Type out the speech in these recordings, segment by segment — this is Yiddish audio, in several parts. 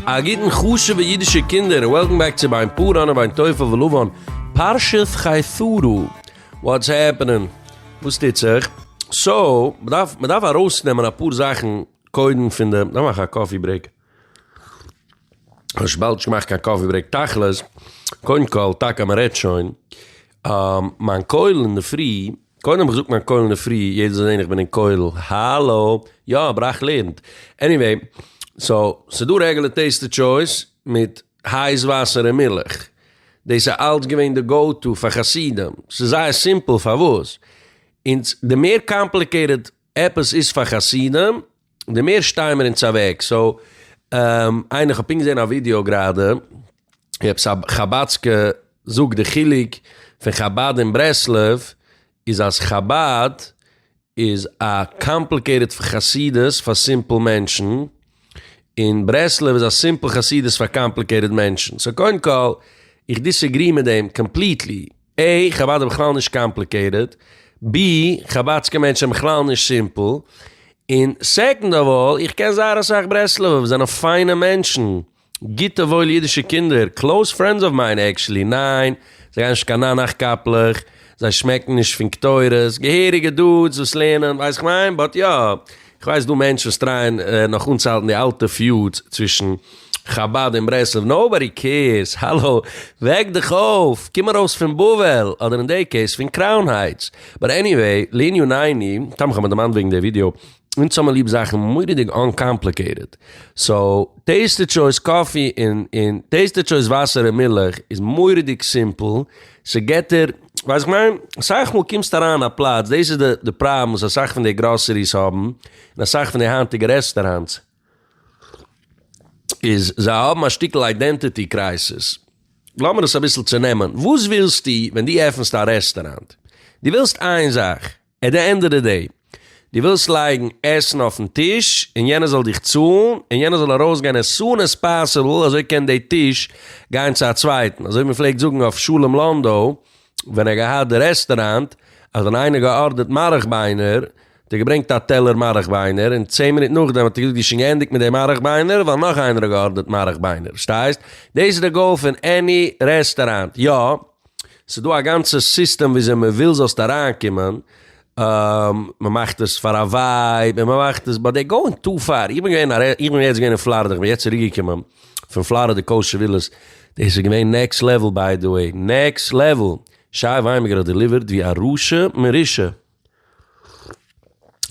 א גוטן חשובע אידישע קינדער און וועלקאם בעק צו ביין פאראן און ביין תופר ולבן פרשת חיתרו וואטס העפענען? וואס טוט זיך? סאו, מ'דארף מ'דארף ארויסנעמען אפאר זאכן קודם פון די, דארף מאכן א קאפי ברעיק. ווייל וויבאלד איך מאך קיין קאפי ברעיק תכלית, קודם כל, טאקע אז מ'רעדט שוין, מיין כולל אינדערפרי, קודם האב איך געזאגט מיין כולל אינדערפרי, יעדער זאל זען איך בין אין כולל, האלא, יא אבער איך לערנט, עניוועי, סאו, ס'דא רעגולער טעיסטעד טשויס מיט הייס וואסער און מילך, דאס איז אלץ געווען די גאו טו פאר חסידים, ס'איז זייער סימפל פארוואס, אונז, די מער קאמפליקעיטעד עפעס איז פאר חסידים, די מער שטייען מיר אונז אוועק סאו איינער איך האב פונקט געזען א ווידיאו גראדע ווי עפעס א חבדסקע זאגט די חילוק פון חבד און ברסלב איז אז חבד איז א קאמפליקעיטעד חסידות פאר סימפל מענטשן און ברסלב איז א סימפל חסידות פאר קאמפליקעיטעד מענטשן סאו קודם כל איך דיסעגרי מיט דעם קאמפליטלי. א. חבד איז בכלל נישט קאמפליקעיטעד. ב. חבד'סקע מענטשן זענען בכלל נישט סימפל. און סעקאנד אוו אלל, איך קען זייער אסאך ברסלב'ע וואס זענען פיינע מענטשן, גוטע וואוילע אידישע קינדער, קלאוז פרענדס אוו מיין, עקשעלי ניין, זיי גייען נישט קיין ניין נאך קאפלעך, זיי שמעקן נישט פון קטורת, געהעריגע דוד'ס וואס לערנען, ווייסט איך מיין, באט יא. כ'ווייס דא מענטשן וואס טרייען נאך אנצוהאלטן די אלטע פיוטס צווישן חבד און ברסלב, נאובאדי קעירס, האלא, וועק דיך אויף, קום ארויס פון בבל, אדער אין דעי קעיס פון קראון הייטס. באט עניוועי, לענין הענין, תם כ'האב מיר דערמאנט וועגן די ווידיאו, אונז האמיר ליב זאכן מורא'דיג אנקאמפליקעיטעד, סאו טעיסטע טשויס קאפי און טעיסטע טשויס וואסער און מילך איז מורא'דיג סימפל, ס'געטער, ווייסט איך מיין, אסאך מאל קומסטו אריין אין א פלאץ, דאס איז די פראבלעם וואס אסאך פון די גראסעריס האבן, און אסאך פון די היינטיגע רעסטעראנטס, איז זיי האבן א שטיקל איידענטיטי קרייסיס, לאמיר עס אביסל צונעמען, וואס ווילסטו ווען דו עפנסט א רעסטעראנט? דו ווילסט איין זאך. עט די ענד אוו די דעי, דו ווילסט לייגן עסן אויפן טיש און יענער זאל דיך צאלן, און יענער זאל ארויסגיין עס סאן עס פאסיבל, אזוי קען די טיש גיין צו א צווייטן, אזוי ווי מען פלעגט זאגן אויף שלום לאנדא ווען ער האט געהאט די רעסטעראנט, אז ווען איינער האט געארדערט מארעך ביינער, האט ער געברענגט א טעלער מארעך ביינער, און צען מינוט נאכדעם האט ער געזאגט דו שוין געענדיגט מיט די מארעך ביינער, ווייל נאך איינער האט געארדערט מארעך ביינער, פארשטייסט? דאס איז די גאול פון עני רעסטעראנט, יא. ס'איז דא א גאנצע סיסטעם וויאזוי מ'וויל זאלסט אריינקומען, מ'מאכט עס פאר א ווייב, און מ'מאכט עס, באט דעי גאוינג טו פאר, איך בין געווען א, איך בין יעצט געווען אין פלארידע, איך בין יעצט צוריק געקומען פון פלארידע קאושער ווילעס, דאס איז געווען נעקסט לעוועל ביי די וועי, נעקסט לעוועל, שי וויינבערגער האט דעליווערט ווי א רשע מרושע,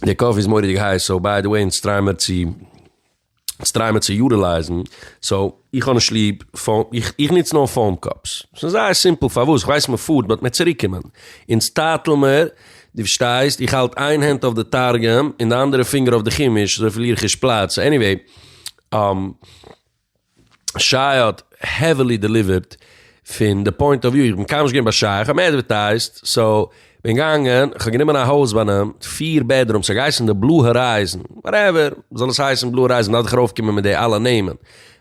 די קאפי איז מורא'דיג הייס, סאו ביי די וועי אונז טריי מיר צו. סטריימער צו יוטילייזן סאו. איך האב נישט ליב פאום איך נוץ נאר פאום קאפס ס'איז זייער סימפל פארוואס איך ווייס מ'פארט באט מיר צוריקומען אונז טאטעל מיר די פארשטייסט איך האלט איין הענט אויף די תרגום און די אנדערע פינגער אויף די חימוש אזוי פארליר איך נישט פלאץ עניוועי. שייע האט העווילי דעליווערט פון די פוינט אוו וויו, איך בין קיינמאל נישט געווען ביי שייע, איך האב אים עדווערטייזט, סאו בין געגאנגען, כ'האב גענומען א הויז ביי אים, פיר בעדרום, ס'האט געהייסן די בלו הארייזן, וואטעווער, זאל עס הייסן בלו הארייזן, מ'דארף דאך ארויפקומען מיט די אלע נעמען,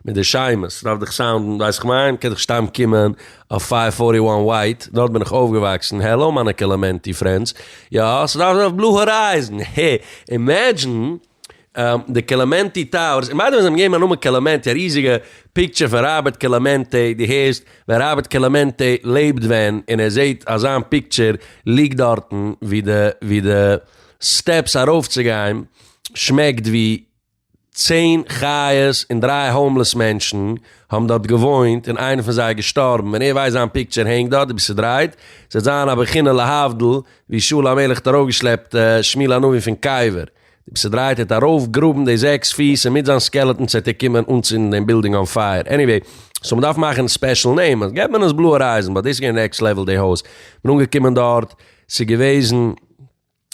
מיט די שמות, ס'דארף דאך סאונדן, ווייסט איך מיין, מ'קען דאך סתם קומען אויף פייוו פארטי וואן ווייט, דארט בין איך אויפגעוואקסן, העלא מיינע קעלעמענטי פרענדס, יא, ס'דארף זיין אויף בלו הארייזן, הע, אימעדזשין. די קעלעמענטי טאוערס, און ביי די וועי זיי האבן געגעבן א נאמען קעלעמענטי, א ריזיגע פיקטשער פון ראבערט קעלעמענטי, דו הערסט ווען ראבערט קעלעמענטי לעבט ווען, און ער זעהט אז זיין פיקטשער ליגט דארטן ווי די ווי די סטעפס ארויף צו גיין שמעקט ווי צען חיות און דריי האומלעס מענטשן האבן דארט געוואוינט און איינער פון זיי איז געשטארבן און ער ווייסט זיין פיקטשער הענגט דארט ווי ס'דרייט ס'וועט זיין א בחינה להבדיל ווי שאול המלך האט ארויפגעשלעפט שמואל הנביא פון קבר. די פסעדרייט האט ארויף גראבן די זעקס פיס און מיט זיין סקעלעטאן צעטיקומען אנצינדן דעם בילדינג אן פייער עניוועי סאו מ'דארף מאכן ספעשל נעים אז געט מען עס בלויע רייזן באט דאס איז געווען נעקסט לעוועל די הויז כ'בין אנגעקומען דארט ס'איז געוועזן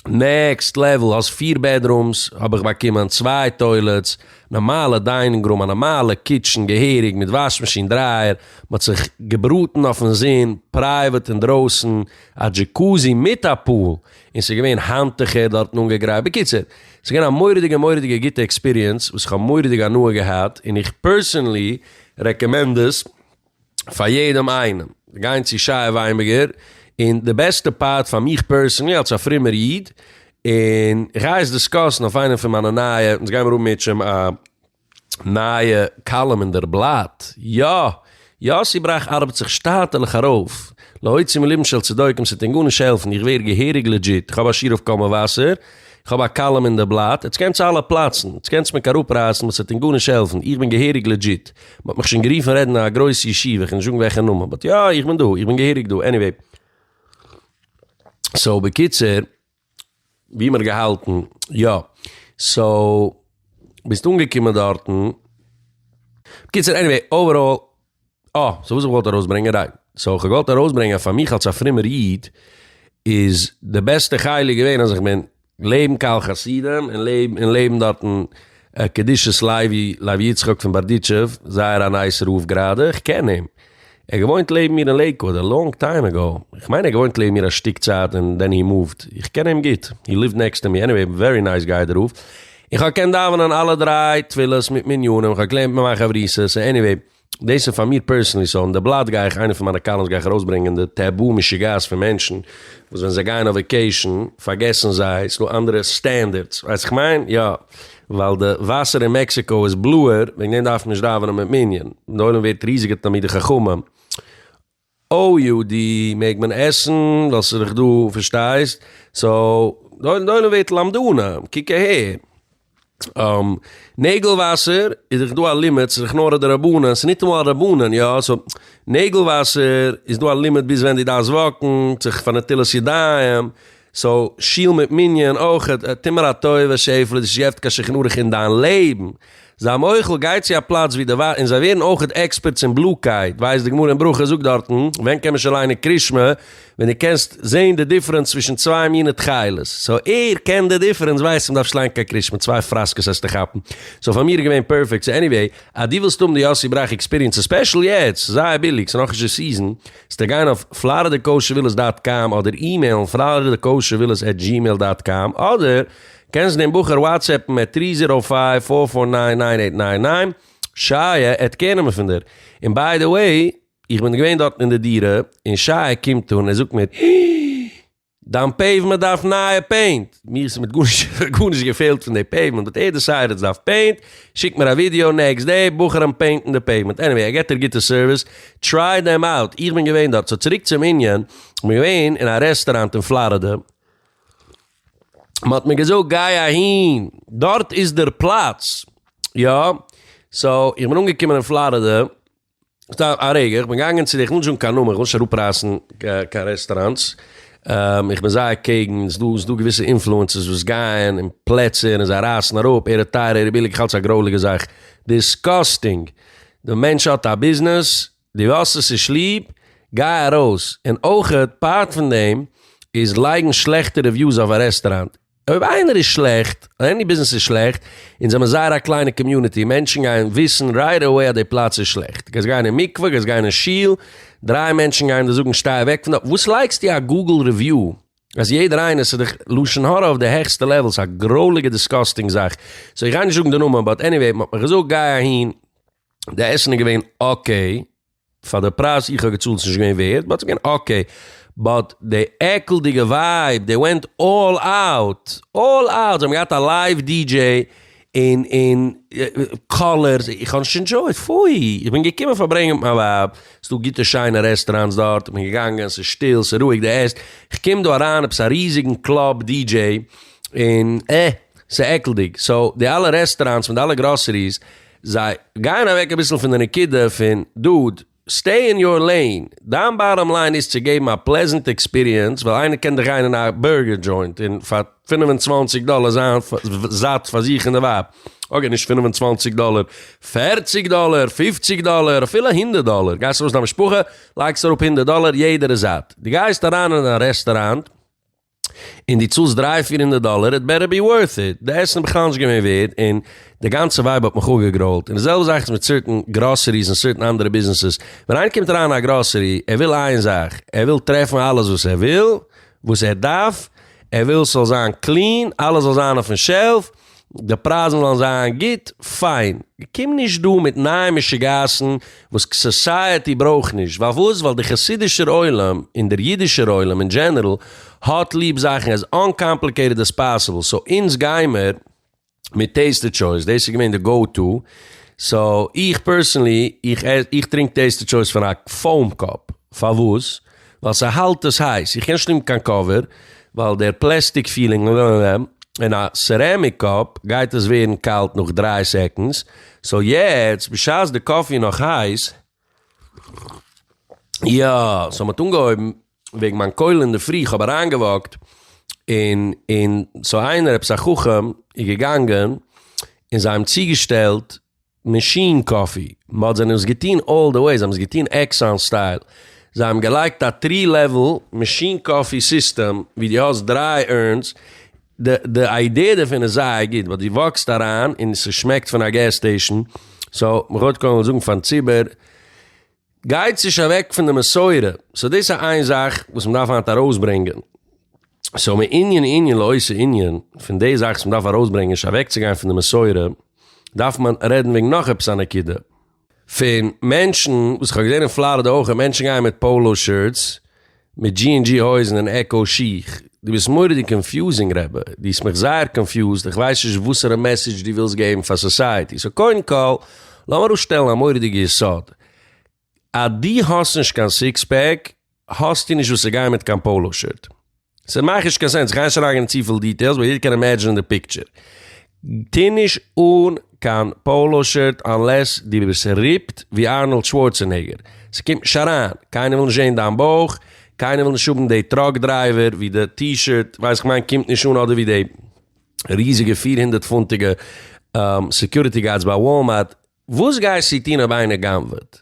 נעקסט לעוועל האסט פיר בעדרומס האב איך באקומען צוויי טוילעטס נארמאלע דיינינג רום א נארמאלע קיטשן געהעריג מיט וואש מאשין דרייער מ'האט זיך געבראטן אויפן זון פרייוועט אינדרויסן א דזשיקוזי מיט א פול און ס'איז געווען האנטוכער דארטן אנגעגרייט, בקיצור, ס'איז געווען א מורא'דיגע מורא'דיגע גוטע עקספיריענס וואס כ'האב מורא'דיג הנאה געהאט, און איך פערסענלי רעקאמענד עס פאר יעדעם איינעם, גיין צו שי וויינבערגער, און די בעסטע פארט פאר מיך פערסענלי אלס א פרומער איד, און איך גיי עס דיסקאסן אויף איינע פון מיינע נייע, אונז גיימער האבן מערטש א. נייע קאלום אין דער בלאט, יא! יאסי בראך ארבעט זיך שטאטעלעך ארויף, להוציא מליבם של צדוקים, ס'וועט אים גארנישט העלפן, איך ווער געהעריג לעדזשיט, איך האב א שיעור אויף קול מבשר, איך האב א קאלום אין דער בלאט, עטס קענטס אלע פלאצן, עטס קענטס מיך אראפרייסן באט ס'וועט אים גארנישט העלפן, איך בין געהעריג לעדזשיט, מ'האט מיך שוין גערופן רעדן אין א גרויס ישיבה, כ'על נישט זאגן וועלכע נאמען, באט יא, איך בין דא, איך בין געהעריג דא, עניוועי. סאו בקיצור, ווי מען האט געהאלטן, יא. סאו ביסט אנגעקומען דארטן. בקיצור עניוועי אוועראל. אה, סאו וואס איך וואלט ארויס ברענגען ריי. סאו איך האב געוואלט ארויס ברענגען אז פאר מיך אלס א פרומער איד איז די בעסטע חלק געווען אז איך בין לעבן קהל חסידים און לעבן און לעבן דארטן קדושת לוי לוי יצחק פון בארדיטשוב זייער א נייס רב גראדע איך קען אים. ער האט געוואוינט לעבן מיר אין לעיקוואד א לאנג טיים אגאו, איך מיין ער האט געוואוינט לעבן מיר א שטיק צייט און דען הי מאווט, איך קען אים גוט, הי ליווט נעקסט טו מי, עניוועי ווערי נייס גיי דער רב, און כהאב געקענט דאווענען אלע דריי תפילות מיט מניינים, כהאב געלערנט מיט מיין חברותא, סא עניוועי דאס איז פאר מיר פערסענלי, סא אין די בלאט גיי איך איינע פון מיינע קאלומס גיי איך ארויסברענגען די טעבו משוגעת פון מענטשן וואס ווען זיי גייען אויף וועקעישן פארגעסן זיי ס'דא אנדערע סטענדערדס, ווייסט איך מיין? יא. ווייל די וואסער אין מעקסיקאו איז בלוער, וועגן דעם דארף מען נישט דאווענען מיט מנין, די עולם ווערט ריזיגע תלמידי חכמים. או יו די מעג מען עסן ווייל ס'איז דאך דא פארשטייסט, סאו די עולם ווערט למדני, קוק אהער, נעגל וואסער איז דאך דא א לימיט, ס'איז דאך נאר א דרבנן, ס'איז ניטאמאל א רבנן, יא, סאו נעגל וואסער איז דא א לימיט ביז ווען דו דארפסט וואקן, זיך פאר נטילת ידיים, סאו שיל מיט מנין אויך, טו מיר א טובה שעיפעלע די שיעפט קיין שכן אריך אין דיין לעבן, זיי מוחל גיי צו א פלאץ ווי די ווייסט און זיי ווערן אויך עקספערטס אין בלו קייט, ווייסט די גמרא אין ברכות זאגט דארטן, ווען קען מען שוין ליינען קרישמע? ווען די קענסט זעהן די דיפרענס צווישן צוויי מינע תכלת, סאו ער קען די דיפרענס ווייסט מען דארף נישט ליינען קיין קרישמע צוויי פראסקעס העסטו כאפן, סאו פאר מיר איז געווען פערפעקט, סאו עניוועי אז דו ווילסט האבן די יאסי בראך עקספיריענס ס'איז ספעשל יעצט זייער ביליג ס'איז נאכנישט די סיזען. ס'טאר גיין אויף פלארידע קאושער ווילעס דאט קאם אדער אימעילן פלארידע קאושער ווילעס עט דזשימעיל דאט קאם אדער קענסט דעם בחור וואטסעפן עט טרי זירא פייוו פאר פאר ניין ניין עיט ניין ניין שייע עט קערנעמען פון דיר און ביי די וועי איך בין געווען דארטן אין די דירה און שייע קומט אן און זאגט מיר הי. דיין פעיוומענט דארף נייע פעינט? מיר איז כמעט גארנישט געפעלט פון די פעיוומענט באט יעדע שייערץ דארף פעינט, שיקט מיר א ווידיאו נעקסט דעי בחורים פעינטן די פעיוומענט, עניוועי ער געט דיר גוטע סערוויס, טריי דעם אוט, איך בין געווען דארט, סאו צוריק צום ענין, איך בין געווען אין א רעסטוראנט אין פלארידע, מען האט מיר געזאגט גיי אהין, דארט איז דער פלאץ, יא, סאו איך בין אנגעקומען אין פלארידע, סתם א רגע, איך בין געגאנגען צו די, איך וויל נישט זאגן קיין נאמען, איך וויל נישט אראפרייסן קיין רעסטאראנטס, איך בין זייער קעגן, ס'איז דא, ס'איז דא געוויסע אינפלוענסערס וואס גייען אין פלעצער און זיי רייסן אראפ, ער איז טייער, ער איז ביליג, איך האלט ס'איז א גרויליגע זאך, דיסקאסטינג, די מענטש האט א ביזנעס, דו האסט עס נישט ליב, גיי ארויס, און אויכעט פארט פון דעם איז לייגן שלעכטע רעוויוס אויף א רעסטאראנט, אויב איינער איז שלעכט, אדער עני ביזנעס איז שלעכט, אונז זעמיר זייער א קליינע קאמיוניטי, מענטשן גייען וויסן רייט עוועי אז די פלאץ איז שלעכט, גייסט גיין אין מקווה, גייסט גיין אין שול, דריי מענטשן גייען דיר זאגן שטיי אוועק פון דארט, וואס לייגסטו א גוגל ריוויו אז יעדער איינער, ס'איז דאך לשון הרע אויף די העכסטע לעוועל, ס'איז א גרויליגע דיסקאסטינג זאך, סאו איך גיי נישט זאגן די נאמען, באט עניוועי, מ'האט מיר געזאגט גיי אהין, די עסן איז געווען אקעי. פאר די פרייז איך האב געצאלט איז נישט געווען ווערד, באט ס'איז געווען אקעי, באט די עקלדיגע ווייב דעי ווענט אלל אוט, אלל אוט, זיי האבן געהאט א לייוו די דזשעי און און קאלערס, איך האב נישט ענדשויט, פוי, איך בין געקומען פארברענגען מיט מיין ווייב, ס'איז דא גוטע שיינע רעסטעראנטס דארט, איך בין געגאנגען, ס'איז שטיל, ס'איז רואיג, די עסט, איך קום דא אריין עפעס א ריזיגן קלאב די דזשעי און אה, ס'איז עקלדיג, סאו די אלע רעסטעראנטס מיט די אלע גראסעריס. זיי גייען אוועק אביסל פון די נקודה פון דוד, סטעי אין יור לעין, דיין באטאם ליין איז צו געבן א פלעזענט עקספיריענס, ווייל איינער קען דיך גיין אין א בורגער דזשוינט און פאר פֿינף און צוואַנציק דאלער זיין זאט פאר זיך און די ווייב, אקעי נישט פֿינף און צוואַנציק דאלער, פֿערציק דאלער, פֿופֿציק דאלער, אפילו הונדערט דאלער, גייסט ארויס מיט דיין משפחה, לייגסט אראפ הונדערט דאלער, יעדער איז זאט, דו גייסט אריין אין א רעסטוראנט, און דו צאלסט דריי פיר הונדערט דאלער, איט בעטער בי ווארט איט, די עסן איז בכלל נישט געווען ווערד, און די גאנצע ווייב האט מיך אפגעגרוילט, און די זעלבע זאך איז מיט סערטען גראסעריס און סערטען אנדערע ביזנעסעס, ווען איינער קומט אריין אין א גראסערי, ער וויל איין זאך, ער וויל טרעפן אלעס וואס ער וויל, וואס ער דארף, ער וויל ס'זאל זיין קלין, אלעס זאל זיין אויפן שעלף, די פרייזן וועלן זיין גוט, פיין. קום נישט דא מיט נייע משוגעת'ן וואס סאסייעטי ברויך נישט. פארוואס? ווייל דער חסידישער עולם און דער אידישער עולם אין דזשענערל האט ליב זאכן עז אנקאמפליקעיטעד עז פאסיבל. סאו אונז גיימער מיט טעיסטעד טשויס. דאס איז געווען די גאו טו. סאו איך פערסענלי, איך טרינק טעיסטעד טשויס פון א פאום קאפ. פארוואס? ווייל ס'האלט עס הייס, איך קען נישט נעמען קיין קאווער ווייל דער פלעסטיק פילינג און א סערעמיק קאפ גייט עס ווערן קאלט נאך דרײַ סעקאנדס, סאו יעצט בשעת די קאפי איז נאך הייס, יא סאו מ'האט אנגעהויבן וועגן מיין קויל אינדערפרי, איך האב אריינגעוואקט און און סאו איינער עפעס א חכם איז געגאנגען און זיי האבן צוגעשטעלט מאשין קאפי, מ'האט זיי נאס געטוהן אלל די וועי, זיי האבן עס געטוהן עקסאן סטייל, זיי האבן געלייגט א טרי לעוועל מאשין קאפי סיסטעם ווי די האסט דריי אורנס, די די איידיע דערפון איז זייער גוט ווייל די וואקסט אריין און ס'שמעקט פון א געז סטעישן, סאו מ'כאפט קודם זאגן פארן ציבור. גייט נישט אוועק פון די מסורה, סאו דאס איז איין זאך וואס מען דארף היינט ארויסברענגען, סאו מענין ענין לעושה ענין, פון די זאך וואס מען דארף ארויסברענגען נישט אוועקצוגיין פון די מסורה, דארף מען רעדן וועגן נאך עפעס א נקודה, פון מענטשן, וואס איך האב געזען אין פלארידע אויך, מענטשן גייען מיט פאלא שירטס, מיט דזשי ענד דזשי הויזן און עקאו שיך, דו ביסט מורא'דיג קאנפיוזינג רבי, דו האסט מיך זייער קאנפיוזד, איך ווייס נישט וואסערע מעסעדזש דו ווילסט געבן פאר סאסייעטי, סאו קודם כל לאמיר אויפשטעלן א מורא'דיגע יסוד, אז דו האסט נישט קיין סיקס פעק האסטו נישט וואס צו גיין מיט קיין פאלא שירט, ס'מאכט נישט קיין סענס, איך גיי נישט אריינגיין אין צופיל דיטעילס באט יעדער קען אימעדזשינען די פיקטשער, טוה נישט אן קיין פאלא שירט אנלעס דו ביסט ריפד ווי ארנאלד שווארצענעגער, ס'קומט נישט אריין, קיינער וויל נישט זעהן דיין בויך, קיינער וויל נישט האבן די טראק דרייווער ווי די טי שירט ווייסט איך מיין קומט נישט אן אדער ווי די ריזיגע פֿיר הונדערט פונטיגע סעקיוריטי גארדס ביי וואלמארט. וואס גייסטו טון אויב איינער גנב'עט?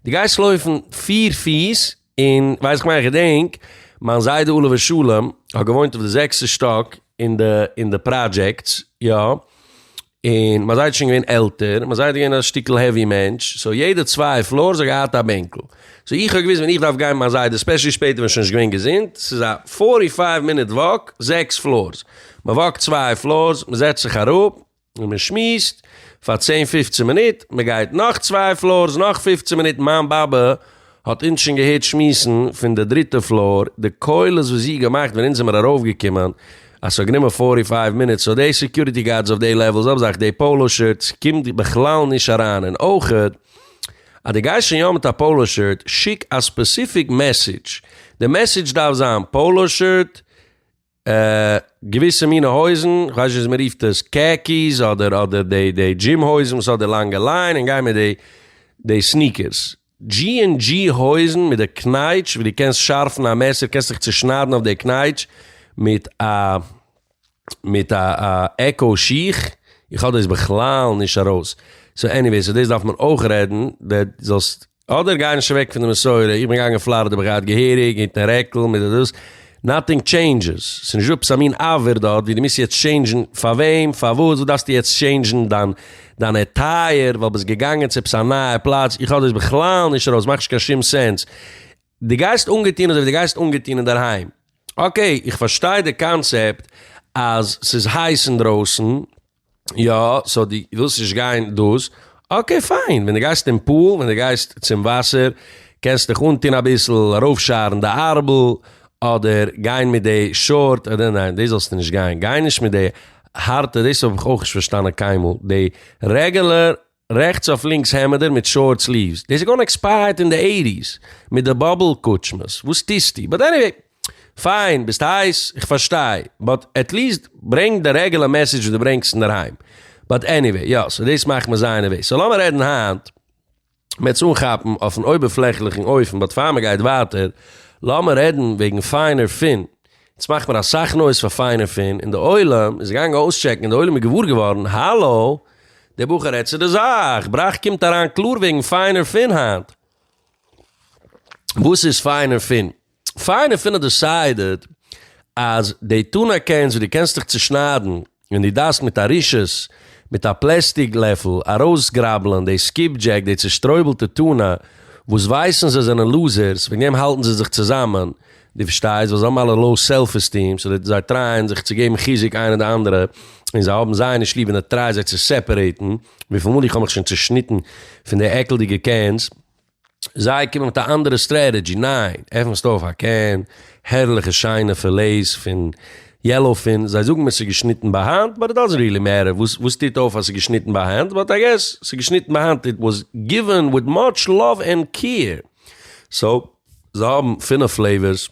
דו גייסט לויפן פיר פיס און ווייס איך מיין איך געדענק מיין זיידע אליווער שלום האט געוואוינט אויף די זעקסטע שטאק אין די אין די פראדזשעקטס יא און מיין זיידע איז שוין געווען עלטער און מיין זיידע איז געווען א שטיקל העווי מענטש סאו יעדע צוויי פלארס האט געהאט א בענקל סאו איך האב געוואוסט ווען איך דארף גיין מיט מיין זיידע ספעשעלי שפעטער ווען ער איז שוין נישט געווען געזונט ס'איז א פארטי פייוו מינוט וואק זעקס פלארס מ'וואקט צוויי פלארס מ'זעצט זיך אראפ און מען שמועסט פאר צען פופצען מינוט, מען גייט נאך צוויי פלארס נאך פופצען מינוט, מיין באבע האט אונז שוין געהערט שמועסן פון די דריטע פלאר, די קולות וואס זי האט געמאכט ווען אונז זעמער ארויף געקומען, אז ס'האט גענומען פֿאָרטי פֿײַוו מינוט, סאו די סעקיוריטי גארדס אויף די לעוועלס האבן זיך די פאלא שירטס קומט בכלל נישט אריין, און אויך אז די גייסט שוין יא מיט א פאלא שירט שיק א ספעסיפיק מעסעדזש, די מעסעדזש דארף זיין פאלא שירט געוויסע מינע הויזן, כ'ווייס נישט ווי מען רופט עס, קעקיס אדער אדער די די דזשים הויזן וואס האט די לאנגע ליין און גיין מיט די די סניקערס. דזשי ענד דזשי הויזן מיט די קנייטש ווי די קענסט שארפן א מעסער קענסט דיך צושניידן אויף די קנייטש מיט א מיט א עקאו שיך, איך האב דאס בכלל נישט ארויס, סאו עניוועיס, אויף דאס דארף מען אויך רעדן, זאלסט אדער גיי נישט אוועק פון די מסורה, איך בין געגאנגען אין פלארידע בין געהאט געהעריג היט און רעקל מיט די דאס, נאטינג טשעינדזשעס, ס'איז נישט דא עפעס א מין עבר דארט ווי דו מוזט יעצט טשעינדזשן, פאר וועם? פארוואס? וואס דארפסטו יעצט טשעינדזשן דיין דיין עטייער ווייל ביסט געגאנגען צו עפעס א נייע פלאץ, איך האב דאס בכלל נישט ארויס, מאכט נישט קיין שום סענס, דו גייסט אנגעטון אזוי ווי דו גייסט אנגעטון אינדערהיים, אקעי איך פארשטיי די קאנצעפט אז ס'איז הייס אינדרויסן, יא, סאו די ווילסט נישט גיין דאס, אקעי פיין, ווען די גייסט אין פול, ווען די גייסט צום וואסער, קענסט דיך אנטון אביסל, ארויפשארן די ארבל, אדער גיין מיט די שארט, אדער ניין, דאס זאלסטו נישט גיין, גיי נישט מיט די הארטע, דאס האב איך אויך נישט פארשטאנען קיינמאל, די רעגעלער. רעכטס אויף לינקס העמעדער מיט שארט סליווס, דאס איז געווארן עקספייערט אין די עיטיס מיט די באבל קוטשמעס, וואס טוסטו? באט עניוועי, פיין, ביסט הייס, איך פארשטיי, באט עטליעסט ברענג די רעגעלע מעסעדזש וואס דו ברענגסט אינדערהיים, באט עניוועי, יא, סאו דאס מאכט מיר זייער נערוועז, סאו לאמיר רעדן היינט, מ'וועט עס אנכאפן אויפן אויבערפלעכליכן אופן, באט פאר מ'גייט ווייטער, לאמיר רעדן וועגן פיינער פין. עס מאכט מיר אסאך נויז פאר פיין און פין און די עולם איז געגאנגען אויסטשעקן און די עולם איז געוואר געווארן האלא דער בחור רעדט צו די זאך בראך קומט אריין קלאר וועגן פיין און פין היינט וואס איז פיין און פין פיין און פין האט דיסיידעד אז די טונא קענס וואס די קענסט דיך צושניידן און דו דארפסט מיט א רשעות, מיט א פלעסטיג לעפל, ארויסגראבלען די סקיפדזשעק, די צושטרויבלטע טונא, וואס ווייסן זיי זענען לוזערס, וועגן דעם האלטן זיי זיך צוזאמען, דו פארשטייסט, ווייל זיי האבן אלע לאו סעלף עסטיעם, סאו זיי טרייען זיך צו געבן חיזוק איינער די אנדערע, און זיי האבן זיי נישט ליב און ער טרייט זיי צו סעפערעיטן, וויפיל מאל איך האב מיך שוין צושניטן פון די עקלדיגע קענס. זיי קומען מיט א אנדערע סטרעטעדזשי, ניין, עפענסט אויף א קען, הערליכע שיינע פילעיס פון יעלאו פין, זיי זאגן מיר ס'איז געשניטן ביי האנט, באט איט דאזענט ריעלי מעטער וואס וואס טוט אויף אז ס'איז געשניטן ביי האנט, באט איי געס ס'איז געשניטן ביי האנט, איט וואס גיווען וויט מאטש לאוו ענד קעיר, סאו זיי האבן פינף פלעיווערס,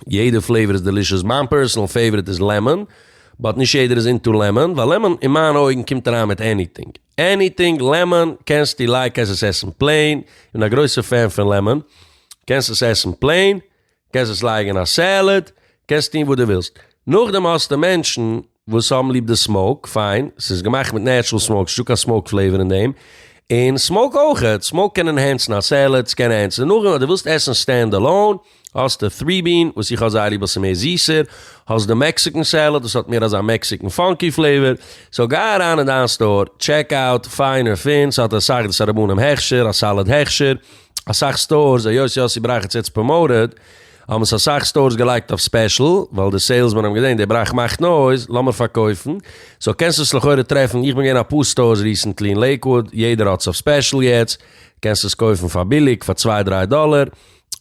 יעדע פלעיווער איז דעלישעס, מיין פערסענעל פעיוועריט איז לעמאן, באט נישט יעדער איז אינטו לעמאן, ווייל לעמאן אין מיינע אויגן קומט אריין מיט עניטינג, עניטינג לעמאן, קענסטו לייקט עס עס עסן פלעין, כ'בין א גרויסע פען פון לעמאן, קענסט עס עסן פלעין, קענסט עס לייגן אין א סעלעד, קענסט טון וואס דו ווילסט, נאכדעם האסטו מענטשן וואס האבן ליב די סמאוק, פיין, ס'איז געמאכט מיט נעטשרעל סמאוק, ס'נישטא קיין סמאוק פלעיווער אין דעם, און סמאוק אויכעט, סמאוק קען ענהענסן א סעלעד, ס'קען ענהענסן נאכדעם אז דו ווילסט עסן סטענד עלאון, האסטו טרי בין, וואס איך האב זייער ליב ווייל ס'איז מער זיסער, האסט די מעקסיקען סעלעד וואס האט מער אזא מעקסיקען פאנקי פלעיווער, סאו גיי אריין אין דיין סטאר, טשעק אוט, פיין און פין, ס'האט אסאך דאס א רבנים הכשר, א סעלעד הכשר, אסאך סטארס, היות יוסי בראכץ איז צפון מערב, האבן עס אסאך סטארס געלייגט אויף ספעשל, ווייל די סעילסמען האבן געזען די בראך מאכט נויז, לאמיר פארקויפן, סאו קענסט עס לכאורה טרעפן, איך בין געווען אפאר סטארס ריסענטלי אין לעיקוואוד, יעדער האט עס אויף ספעשל יעצט, קענסט עס קויפן פאר ביליג, פאר צוויי דריי דאלער,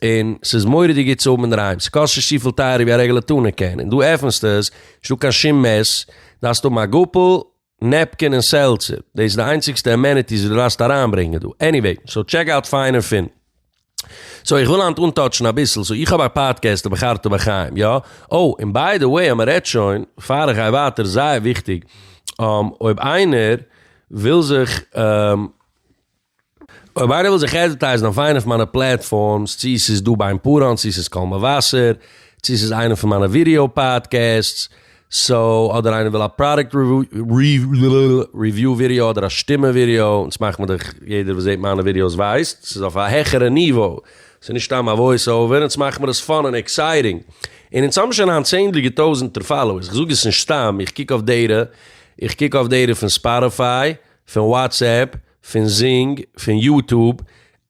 און ס'איז מורא'דיג גוט צו האבן אינדערהיים, ס'קאסט נישט צופיל טייערער ווי א רעגולער טונא קען, און דו עפנסט עס, נישטא קיין שום מעס, דארפסט האבן א גאפל, נעפקין און סעלצער, דאס איז די איינציגסטע אמעניטיס וואס דו דארפסט אריינברענגען דא, עניוועי, סאו טשעק אוט פיין און פין. סאו איך וויל היינט אנטאטשן אביסל, סאו איך האב א פאדקעסט אויף בחרתו בחיים, יא? אוי, און ביי די וועי אז מ'רעדט שוין, פאר איך גיי ווייטער, זייער וויכטיג, אויב איינער וויל זיך אויב איינער וויל זיך עדווערטייזן אויף איינע פון מיינע פלעטפארמס, צי ס'איז דא ביי אמפאראן, צי ס'איז קול מבשר, צי ס'איז איינע פון מיינע ווידעא פאדקעסטס, סאו, אדער איינער וויל א פראדוקט ריוויו ווידעא אדער א שטימע ווידעא, און סמאכט מיר דאך יעדער וואס זעט מיינע ווידעאס ווייסט, ס'איז אויף א העכערע ניווא, ס'איז נישט סתם א וואויס אווער, אונז מאכט מיר עס פאן און עקסייטינג, און אונז האבן שוין היינט צענדליגע טויזענטער פאלאוערס, איך זאג עס נישט סתם, איך קוק אויף דעטע, איך קוק אויף דעטע פון ספאטיפיי, פון וואטסעפפ, פון זינג פון יוטוב,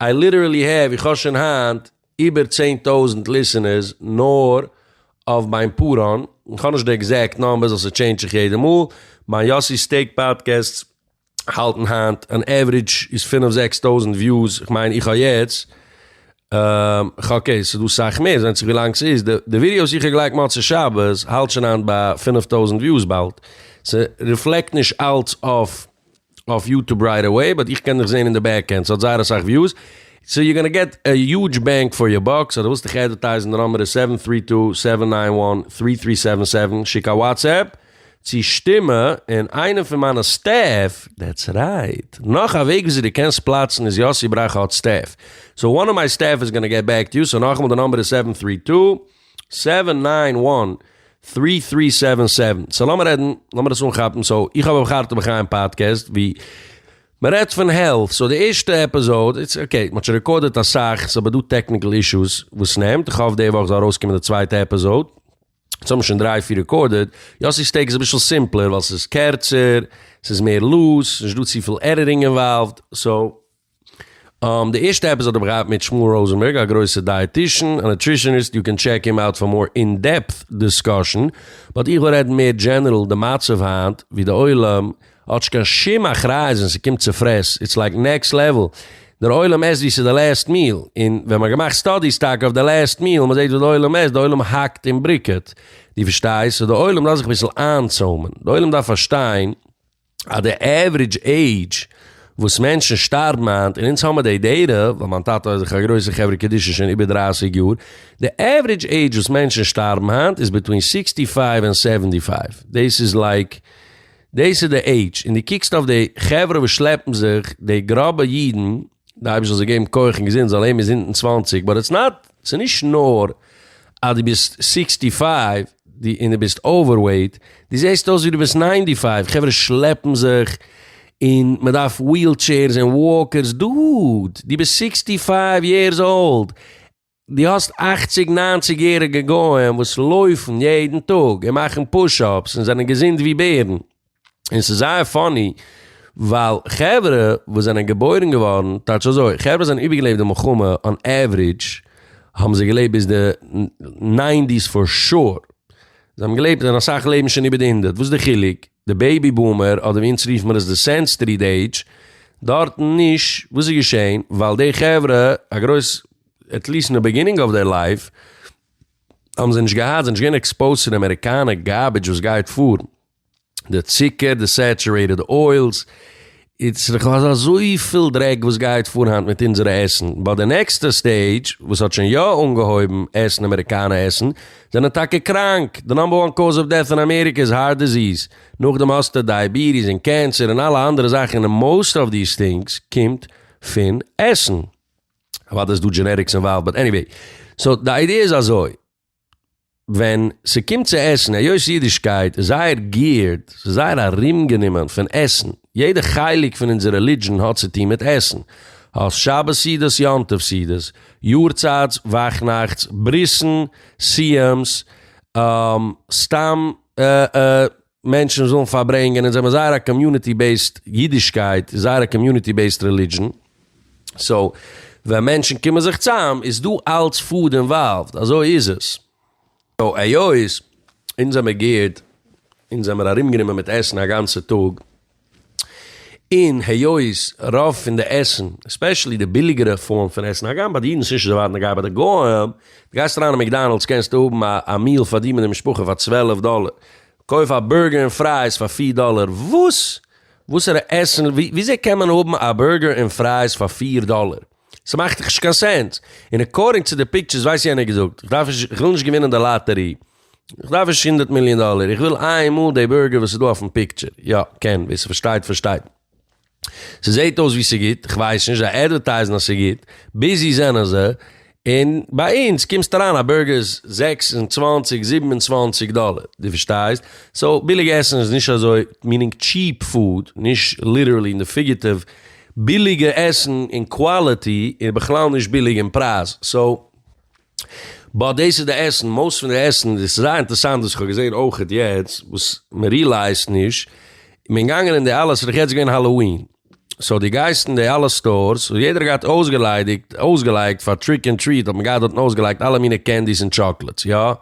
איי ליטערעלי העוו, איך האב שוין היינט איבער צען טויזענט ליסענערס נאר אויף מיין פאראן, איך האב נישט די עקזעקט נאמבערס ווייל ס'טשעינדזש זיך יעדע מאל, מיין יאסי סטעיק פאדקעסטס האלטן היינט אן עוורידזש איז פינף זעקס טויזענט וויוס, איך מיין איך האב יעצט ח ו אקעי ס'איז דא סאך מער ס'ווענדט זיך ווילאנג ס'איז, די ווידעא וואס איך האב געלייגט מוצאי שבת האלט שוין היינט ביי פינף טויזענט וויוס באלד, ס'ריפלעקט נישט אלץ אויף אויף יוטוב רייט עוועי באט איך קען דיך זעהן אין די בעק ענד ס'האט זייער אסאך וויוס סאו יו גאנא געט א יוטש בענג פאר יור באק סאו דו ווילסט דיך עדווערטייזן די נאמבער איז סעווען טרי טו סעווען ניין וואן טרי טרי סעווען סעווען שיק א וואטסעפפ צו שטימע און איינער פון מיינע סטעף דעטס רייט נאך א וועג וויאזוי דו קענסט פלאצן איז יאסי ברכה האט סטעף סאו וואן אוו מיי סטעף איז גאנא געט בעק טו יו סאו נאכאמאל די נאמבער איז סעווען טרי טו סעווען ניין וואן טרי טרי סעווען סעווען סאו לאמיר רעדן לאמיר עס אנכאפן סאו איך האב אויף חרטה בחיים פאדקעסט ווי מ'רעדט פון העלט סאו די ערשטע עפיזאוד איז אקעי מ'האט שוין רעקארדעט אסאך ס'אבער דא טעקניקל אישוס וואס נעמט איך האף די וואך זאל ארויסקומען די צווייטע עפיזאוד יעצט האבן מיר שוין דריי פיר רעקארדעט יאסי'ס טעיק איז אביסל סימפלער ווייל ס'איז קערצער ס'איז מער לוז ס'איז נישט דא צופיל עדיטינג אינוואלווד סאו די ערשטע עפיזאד האב איך געהאט מיט שמואל ראזענבערג א גרויסע דייעטישן און נוטרישעניסט יו קען טשעק הים אוט פאר מאר אין דעפט דיסקאשן באט איך וויל רעדן מער דזשענערל די מצב היינט ווי די עולם האט נישט קיין שום אחריות ווען ס'קומט צו פרעס איטס לייק נעקסט לעוועל דער עולם עסט ווי ס'איז די לעסט מיעל און ווען מ'האט געמאכט סטאדיס טאקע אויף די לעסט מיעל מ'זעט וואס די עולם עסט די עולם האקט און בריקעט דו פארשטייסט סאו די עולם דארף זיך אביסל איינצוימען די עולם דארף פארשטיין אז די עוורידזש עידזש וואס מענטשן שטארבן היינט, און אונז האמער די דעטע, ווייל מיין טאטע איז דאך א גרויסע חברה קדישא שוין איבער דרייסיג יאר, די עוורידזש עידזש וואס מענטשן שטארבן היינט איז ביטווין סיקסטי פייוו און סעווענטי פייוו, דאס איז לייק, דאס איז די עידזש, און דו קוקסט אויף די חברה וואס שלעפן זיך, די גראבע אידן, די אייבערשטער זאל געבן כח און געזונט זאל אים איז אונטן צוואַנציק באט איטס נאט ס'איז נישט נאר אז די ביסט סיקסטי פייוו די און די ביסט אווער וועיט די זעסט אויס ווי די ביסט ניינטי פייוו חברה שלעפן זיך און מען דארף וויל טשעירס און וואקערס דוד די ביסט סיקסטי פייוו יערס אולד. דו האסט אכציג ניינציג יעריגע גוים וואס לויפן יעדן טאג און מאכן פוש אפס און זענען געזונט ווי בערן, און ס'איז זייער פאני ווייל חברה וואס זענען געבוירן געווארן, טייטש אזוי, חברה וואס זענען איבערגעלעבט די מלחמה אן עוורידזש האבן זיי געלעבט ביז די ניינטיס פאר שור, זיי האבן געלעבט און אסאך לעבן שוין איבער די הונדערט, וואס איז די חילוק? די בעיבי בומער, אדער ווי אונז רופן מיר עס די סענסטרי עידזש, דארטן נישט, וואס איז געשען? ווייל די חברה, א גרויס, עטליסט אין די ביגינינג אוו דעיר לייף, האבן זיי נישט געהאט, זיי זענען נישט געווען עקספאוזט צו די אמעריקאנע גארבידזש וואס גייט פאר, די צוקער, די סעטשורעיטעד אוילס, איטס איך האב אזויפיל דרעק וואס גייט פאר היינט מיט אונזערע עסן, באט די נעקסטע סטעידזש וואס האט שוין יא אנגעהויבן עסן אמעריקאנע עסן זענען טאקע קראנק, די נאמבער וואן קאוז אוו דעט אין אמעריקע איז הארט דיזיז, נאכדעם האסטו דייעביטיס און קענסער און אלע אנדערע זאכן און מאוסט אוו דיס טינגס קומט פון עסן. אוודאי איז דא דזשענעטיקס אינוואלווד באט עניוועי, סאו די איידיע איז אזוי. ווען ס'קומט צו עסן, היות אידישקייט איז זייער געירד, ס'איז זייער ארומגענומען פון עסן, יעדע חלק פון אונזער רעלידזשען האט צו טון מיט עסן, האסט שבת סעודות, יום טוב סעודות, יארצייטס, וואכנאכטס, ברית'ן, סיום'ס, סתם מענטשן זאלן פארברענגען און זיי האבן זייער א קאמיוניטי בעיסד אידישקייט איז זייער א קאמיוניטי בעיסד רעלידזשען סאו ווען מענטשן קומען זיך צאם איז דא אלץ פוד אינוואלווד אזוי איז עס סאו היות אונז זעמער גערט אונז זעמער ארומגענומען מיט עסן א גאנצע טאג. און היות רוב פון די עסן, עספעשעלי די ביליגערע פארם פון עסן, הגם ביי די אידן ס'נישט אזוי ווייט נוגע ביי די גוים, די גייסט אריין אין מעקדאנעלדס קענסטו האבן א מיעל פאר דיר מיט די משפחה פאר צוועלף דאלער, קויף א בורגער און פרייס פאר פיר דאלער, וואס? וואסערע עסן? וויאזוי קען מען האבן א בורגער און פרייס פאר פיר דאלער? ס'מאכט דאך נישט קיין סענס. און אקארדינג צו די פיקטשערס ווייסט יענער געזאגט, איך דארף נישט, איך וויל נישט געווינען די לאטערי, איך דארף נישט הונדערט מיליאן דאלער, איך וויל איינמאל די בורגער וואס איז דא אויפן פיקטשער. יא, קען, ווער ס'פארשטייט פארשטייט. ס'זעהט אויס ווי ס'גוט, כ'ווייס נישט, זיי עדווערטייזן אז ס'גוט, ביזי זענען זיי, און ביי אונז קומסטו אריין א בורגער איז זעקס און צוואַנציק זיבן און צוואַנציק דאלער, דו פארשטייסט? סאו ביליג עסן איז נישט אזוי, מיענינג טשיעפ פוד, נישט ליטערלי אין די פיגעטיוו, ביליגע עסן און קוואליטי איז בכלל נישט ביליג אין פרייז סאו באט דאס איז די עסן מאוסט פון די עסן דאס איז זייער אינטערסאנט וואס איך האב געזעהן אויכעט יעצט וואס מען רילייזט נישט מען איז געגאנגען אין די אלע ס'איז דאך יעצט געווען האלאווין סאו די גייסט אין די אלע סטארס וואס יעדער האט געהאט אויסגעליידיגט אויסגעלייגט פאר טריק און טריט האט מען געהאט דארטן אויסגעלייגט אלע מיני קענדיס און טשאקלעטס יא.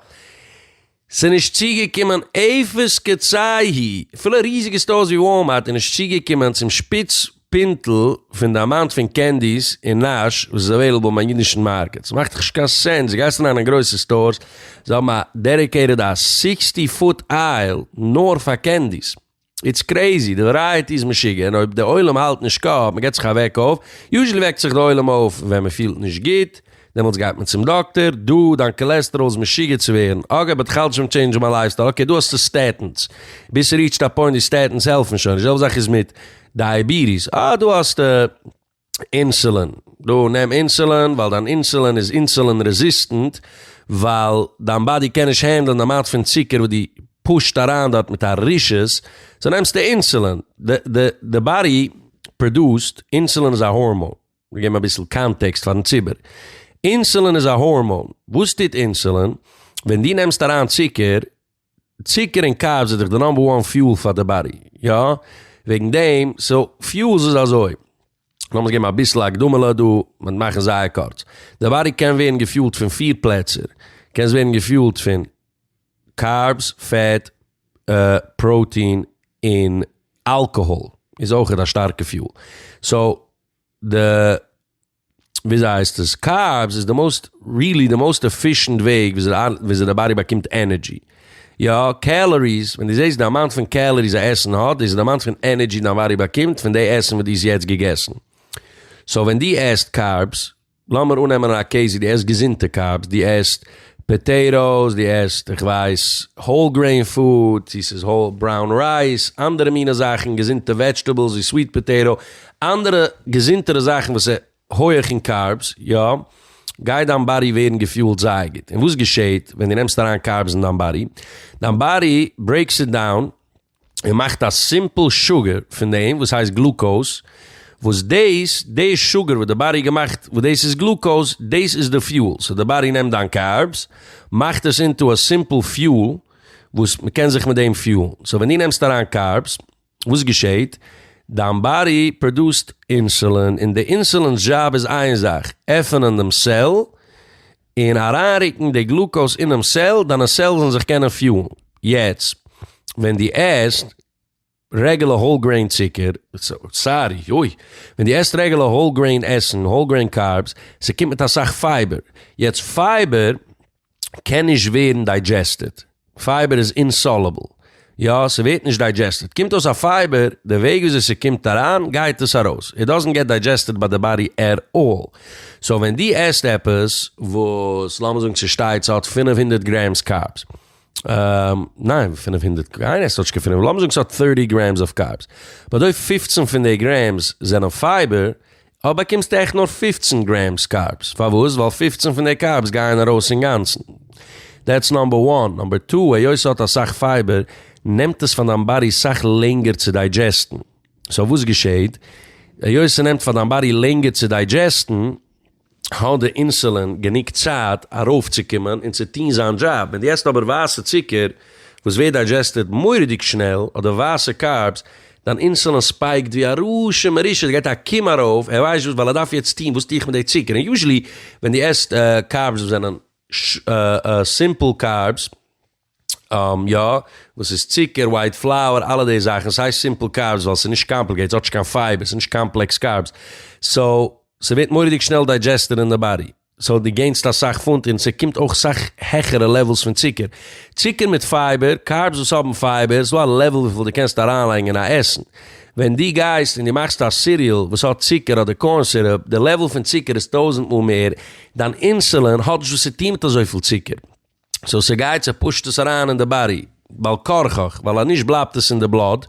ס'נישט צוגעקומען אפס קצי ה, אפילו ריזיג עס זעט אויס ווי וואלמארט איז נישט צוגעקומען צום שפיץ פינטל פון די אמאונט פון קענדיס און נאש וואס איז אוועילעבל ביים אידישן מארקעט, ס'מאכט דאך נישט קיין סענס, דו גייסט אריין אין גרויסע סטארס, זיי האבן א דעדיקעיטעד א סיקסטי פוט אייל נאר פאר קענדיס. איטס קרעיזי, די ווערייעטי איז משוגע, און אויב די עולם האלט נישט קאפ, מען געט זיך א וועק אויף, יוזשעלי וועקט זיך די עולם אויף ווען מען פילט נישט גוט, דעמאלטס גייט מען צום דאקטער, דא, דיין קאלעסטעראל איז משוגע צו ווערן, אגב באט כאלץ שוין טשעינדזשן מיין לייפסטייל, אקעי דא האסטו סטעטינס, ביז ס'ריעטשט א פוינט ווי סטעטינס העלפן שוין נישט, די זעלבע זאך איז מיט דייעביטיס, אה דא האסטו. אינסולין, דו נעם אינסולין ווייל דיין אינסולין איז אינסולין רעזיסטענט, ווייל דיין באדי קען נישט הענדלען די אמאונט פון צוקער וואס דו פושט אריין דארט מיט א רשות, סאו נעמסטו אינסולין. די באדי פראדוסט, אינסולין איז א הארמאן, מיר געבן אביסל קאנטעקסט פארן ציבור, אינסולין איז א הארמאן, וואס טוט אינסולין? ווען דו נעמסט אריין צוקער, צוקער און קארבס איז דאך די נאמבער וואן פיול פאר די באדי, יא? וועגן דעם, סאו, פיולס איז אזוי, לאמיר געבן אביסל הקדמה'לע דא, מיט מאכן זייער קורץ. די באדי קען ווערן געפיולט פון פיר פלעצער, קען עס ווערן געפיולט פון קארבס, פעט, פראוטין, און אלקאהאל איז אויכעט א שטארקע פיול. סאו, די וויאזוי הייסט עס? קארבס איז די מאוסט, ריעלי די מאוסט עפישענט וועג וויאזוי די באדי באקומט ענערדזשי. יא, קעלאריס, ווען דו זעסט די אמאונט פון קעלאריס א עסן האט, דאס איז די אמאונט פון ענערדזשי דיין באדי באקומט פון די עסן וואס דו האסט יעצט געגעסן. סאו ווען דו עסט קארבס, לאמיר אננעמען א קעיס ווי דו עסט געזונטע קארבס, דו עסט פאטעיטאס, דו עסט איך ווייס האול גרעין פוד, צו ס'איז האול בראון רייס, אנדערע מיני זאכן, געזונטע וועדזשטעבלס ווי סוויט פאטעיטא, אנדערע געזונטערע זאכן וואס איז הויעך אין קארבס, יא, גייט דיין באדי ווערן געפיולט זייער גוט. און וואס געשעהט ווען דו נעמסט אריין קארבס אין דיין באדי? דיין באדי ברעיקס איט דאון און מאכט א סימפל שוגער פון דעם וואס הייסט גלוקאוז, וואס דאס די שוגער וואס די באדי געמאכט וואס דאס איז גלוקאוז, דאס איז די פיול. סאו די באדי נעמט דיין קארבס, מאכט עס אינטו א סימפל פיול וואס מ'קען זיך מיט דעם פיולן. סאו ווען דו נעמסט אריין קארבס, וואס געשעהט? דיין באדי פראדוסט אינסולין און די אינסולינ'ס דזשאב איז איין זאך, עפענען דעם סעל און אריינרוקן די גלוקאוז אינעם סעל, דיינע סעלס זאלן זיך קענען פיולן. יעצט ווען דו עסט רעגולער האול גרעין צוקער, סארי, אוי, ווען דו עסט רעגולער האול גרעין עסן, האול גרעין קארבס, ס'קומט מיט אסאך פייבער. יעצט פייבער קען נישט ווערן דיידזשעסטעד, פייבער איז אינסאלעבל, יא ס'ווערט נישט דיידזשעסטעד, קומט אויס א פייבער, די וועג וויאזוי ס'קומט אריין גייט עס ארויס, איט דאזענט געט דיידזשעסטעד ביי די באדי עט אלל, סאו ווען דו עסט עפעס וואס לאמיר זאגן ס'שטייט ס'האט פֿינף הונדערט גרעמס קארבס, ניין פֿינף הונדערט, קיינער עסט דארט נישט קיין פֿינף, לאמיר זאגן ס'האט דרײַסיק גרעמס אויף קארבס, באדויט פֿופֿצן פון די גרעמס זענען פייבער, אויב באקומסטו עכט נאר פֿופֿצן גרעמס קארבס, פארוואס? ווייל פֿופֿצן פון די קארבס גייען ארויס אינגאנצן. דעטס נאמבער וואן. נאמבער טו, היות ס'האט אסאך פייבער, נעמט עס פאר דיין באדי סאך לענגער צו דיידזשעסטן. סאו וואס געשעהט? היות ס'נעמט פאר דיין באדי לענגער צו דיידזשעסטן, האט די אינסולין גענוג צייט ארויפצוקומען און צו טון זיין דזשאב. ווען דו עסט אבער ווייסע צוקער, וואס ווערט דיידזשעסטעד מורא'דיג שנעל, אדער ווייסע קארבס, דיין אינסולין ספיייקט ווי א רשע מרושע, עס גייט א קום ארויף, ער ווייסט נישט וואס ווייל ער דארף יעצט טון, וואס טו איך מיט די צוקער, און יוזשעלי ווען דו עסט קארבס וואס זענען סימפל קארבס, יא, וואס איז צוקער, ווייט פלאוער, אלע די זאכן, עס הייסט סימפל קארבס ווייל עס איז נישט קאמפליקעיטעד, עס האט נישט קיין פייבער, עס איז נישט קאמפלעקס קארבס, סאו, ס'ווערט מורא'דיג שנעל דיידזשעסטעד אין די באדי. סאו דו געינסט אסאך פונט און ס'קומט אויך סאך העכערע לעוועלס פון צוקער. צוקער מיט פייבער, קארבס וואס האבן פייבער, איז דא א לעוועל וויפיל דו קענסט אריינלייגן אין א עסן. ווען דו גייסט און דו מאכסט א סיריעל וואס האט צוקער אדער קארן סירופ, די לעוועל פון צוקער איז טויזנט מאל מער, דיין אינסולין האט נישט וואס צו טון מיט אזויפיל צוקער. סאו ס'גייט, ס'פושט עס אריין אין די באדי בעל כרחך, ווייל אז נישט בלייבט עס אין די בלאט,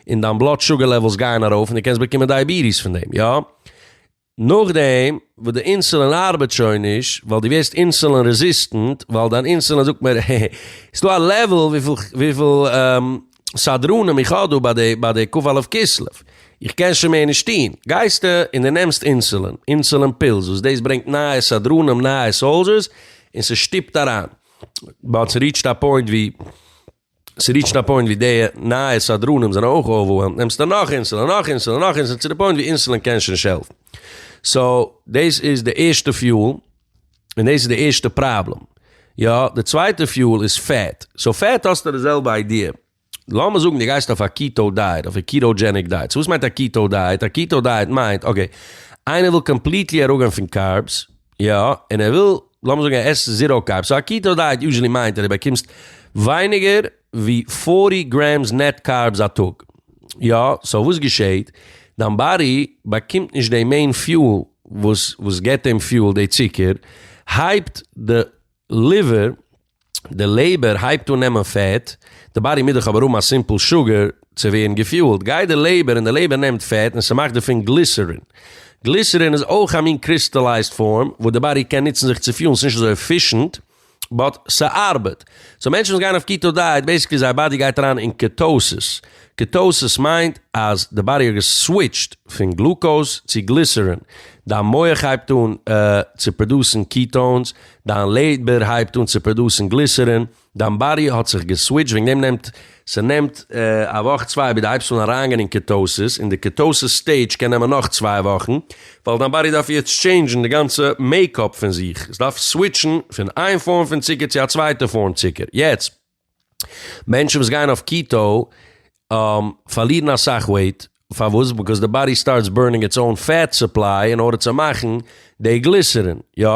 און דיין בלאט שוגער לעוועלס גייען ארויף און דו קענסט באקומען דייעביטיס פון דעם. יא. נאכדעם וואס די אינסולין ארבעט שוין נישט ווייל דו ווערסט אינסולין רעזיסטענט ווייל דיין אינסולין זאגט מער העי העי עס איז דא א לעוועל וויפיל וויפיל סדרנים איך האב דא ביי די ביי די כ א כסלו איך קען שוין מער נישט טון גייסטו און דו נעמסט אינסולין אינסולין פילס וואס דאס ברענגט נייע סדרנים נייע סאלזשערס און ס'שטופט אריין באט ס'ריעטשט א פוינט ווי. ס'ריעטשט א פוינט ווי די נייע סדרנים זענען אויך אווערוועלמד, נעמסטו נאך אינסולין, נאך אינסולין, נאך אינסולין, צו די פוינט ווי אינסולין קען שוין נישט העלפן. סאו, דאס איז די ערשטע פיול, און דאס איז די ערשטע פראבלעם. יא, די צווייטע פיול איז פעט. סאו פעט האסטו די זעלבע איידיע. לאמיר זאגן די גייסט אויף א קיטאו דייעט, אויף א קיטאו-דזשעניק דייעט. סאו וואס מיינט א קיטאו דייעט? א קיטאו דייעט מיינט, אקעי, איינער וויל קאמפליטלי אראפגיין פון קארבס, יא, און ער וויל לאמיר זאגן ער עסט זיראו קארבס, סאו א קיטא דייעט יוזשעלי מיינט אז דו באקומסט ווייניגער ווי פֿאָרטי גרעמס נעט קארבס א טאג. יא, סאו וואס געשעהט? דיין באדי באקומט נישט די מעין פיול וואס וואס געבט אים פיול, די צוקער הייבט די ליווער. די לעבער הייבט אן נעמען פעט, די באדי מוז דאך אבער האבן א סימפל שוגער צו ווערן געפיולט, גייט די לעבער און די לעבער נעמט פעט און ס'מאכט דערפון גליסערין. גליסערין איז אויך א מין קריסטעלייזד פארם וואס די באדי קען נוצן זיך צו פיולן, ס'נישט אזוי עפישענט באט ס'ארבעט. סאו מענטשן וואס גייען אויף קיטא דייעט בעיסיקלי זייער באדי גייט אריין אין קעטאוסיס, קעטאוסיס מיינט אז די באדי האט געסוויטשט פון גלוקאוז צו גליסערין, דיין מח הייבט אן צו פראדוסן קיטאונס, דיין לעדבער הייבט אן צו פראדוסן גליסערין, דיין באדי האט זיך געסוויטשט וועגן דעם נעמט, ס'נעמט א וואך צוויי ביז די הייבסט אן אריינגיין אין קיטאסיס, און די קיטאסיס סטעידזש קען נעמען נאך צוויי וואכן, ווייל דיין באדי דארף יעצט טשעינדזשן די גאנצע מעיקאפ פון זיך, עס דארף סוויטשן פון איין פארם פון צוקער צו א צווייטע פארם צוקער, יעצט. מענטשן וואס גייען אויף קיטא פארלירן אסאך וועיט, פארוואס? ביקאוז די באדי סטארטס בורנינג איטס אוין פעט סופליי אין ארדער צו מאכן די גליסערין, יא?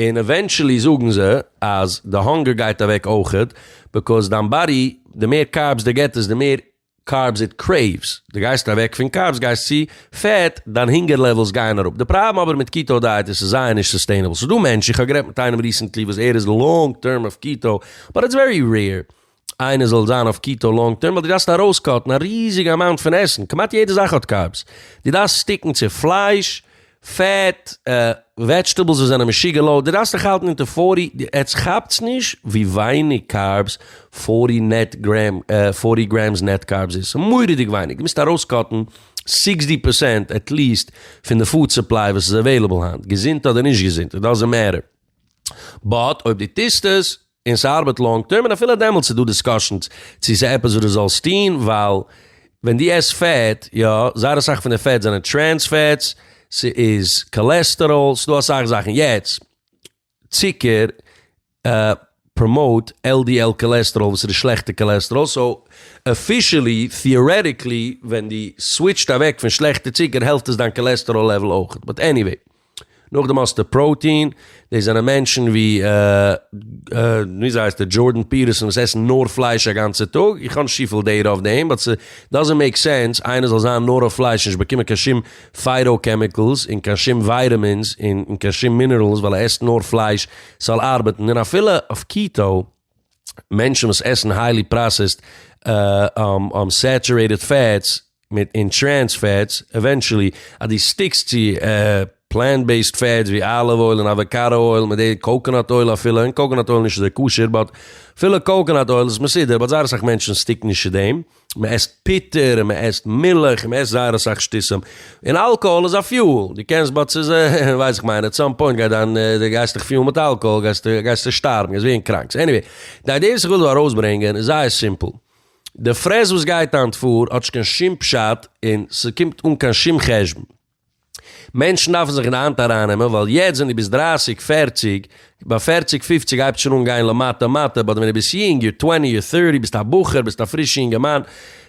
און עווענטשעלי זאגן זיי אז די האנגער גייט אוועק אויכעט, ביקאוז דיין באדי די מער קארבס די געט עס די מער. קארבס איט קרעיווס, די גייסט אוועק פון קארבס גייסט צו פעט, דיין הונגער לעוועלס גייען אראפ, די פראבלעם אבער מיט קיטאו דייעט איז ס'איז זייער נישט סוסטעינעבל, ס'איז דא מענטשן, איך האב גערעדט מיט איינעם ריסענטלי וואס ער איז לאנג טערם אויף קיטאו, באט איטס ווערי רעיר איינער זאל זיין אויף קיטאו לאנג טערם ווייל דו דארפסט ארויסקאטן א ריזיגע אמאונט פון עסן, כמעט יעדע זאך האט קארבס, דו דארפסט סטיקן צו פלייש, פעט, וועדזשטעבלס וואס זענען משוגע לאו, די דארפסט דיך האלטן אונטער פארטי, עטס כאפטס נישט ווי ווייניג קארבס פארטי נעט גרעם, פארטי גרעמס נעט קארבס איז, ס'איז מורא'דיג ווייניג, די מוזט ארויסקאטן סיקסטי פערסענט עטליעסט פון די פוד סופליי וואס איז עוועילעבל היינט, געזונט אדער נישט געזונט, איט דאזענט מעטער, באט אויב די טוסט עס. און ס'ארבעט לאנג טערם און אפילו דעמאלטס איז דא דיסקאשענס צו ס'איז עפעס וואס דו זאלסט טוהן ווייל ווען דו עסט פעט, יא, זייער אסאך פון די פעטס זענען טרענס פעטס, ס'איז קאלעסטעראל, ס'דא אסאך זאכן. יעצט, צוקער פראמאוט LDL קאלעסטעראל וואס איז די שלעכטע קאלעסטעראל, סאו אפישעלי, טעארעטיקלי, ווען דו סוויטשט אוועק פון שלעכטע צוקער העלפט עס דיין קאלעסטעראל לעוועל אויכעט, באט עניוועי. נאכדעם האסטו פראוטין, דאס זענען מענטשן ווי וויאזוי הייסט ער דזשארדען פיטערסאן וואס עסן נאר פלייש א גאנצע טאג, איך האב נישט צופיל דעטע אויף דעם באט ס'דאזענט מעיק סענס איינער זאל זיין נאר אויף פלייש און נישט באקומען קיין שום פייטא קעמיקעלס און קיין שום ווייטעמינס און קיין שום מינערעלס ווייל ער עסט נאר פלייש ס'זאל ארבעטן, און אפילו אויף קיטאו. מענטשן וואס עסן היילי פראסעסד סעטורעיטעד פעטס מיט און טרענס פעטס, עווענטשעלי אז דו סטיקסט צו פלענט בעיסד פעטס ווי אליוו אויל און אוואקאדא אויל מיט די קאקאנאט אויל אפילו, און קאקאנאט אויל נישט אזוי כשר באט אפילו קאקאנאט אויל איז מסודר באט זייער אסאך מענטשן סטיקן נישט צו דעם. מען עסט פוטער און מען עסט מילך און מען עסט זייער אסאך שטותים, און אלקאהאל איז א פיועל, דו קענסט באט ס'איז ווייס איך מיין עט סאם פוינט גייט דיין דו גייסט דיך פיולן מיט אלקאהאל גייסטו גייסטו שטארבן גייסט ווערן קראנק, סאו עניוועי די איידיע וואס איך וויל דא ארויסברענגען איז זייער סימפל, די פרעס וואס גייט היינט פאר האט נישט קיין שום פשט און ס'קומט אן קיין שום חשבון. מענטשן דארפן זיך אין די האנט אריינעמען, ווייל יעצט ווען דו ביסט דרייסיג, פערציג, ביי פערציג, פיפציג הייבט שוין אן גיין למטה מטה, באט ווען דו ביסט יונג, יור טווענטי, יור טערטי, ביסט א בחור, ביסט א פרישע יונגערמאן,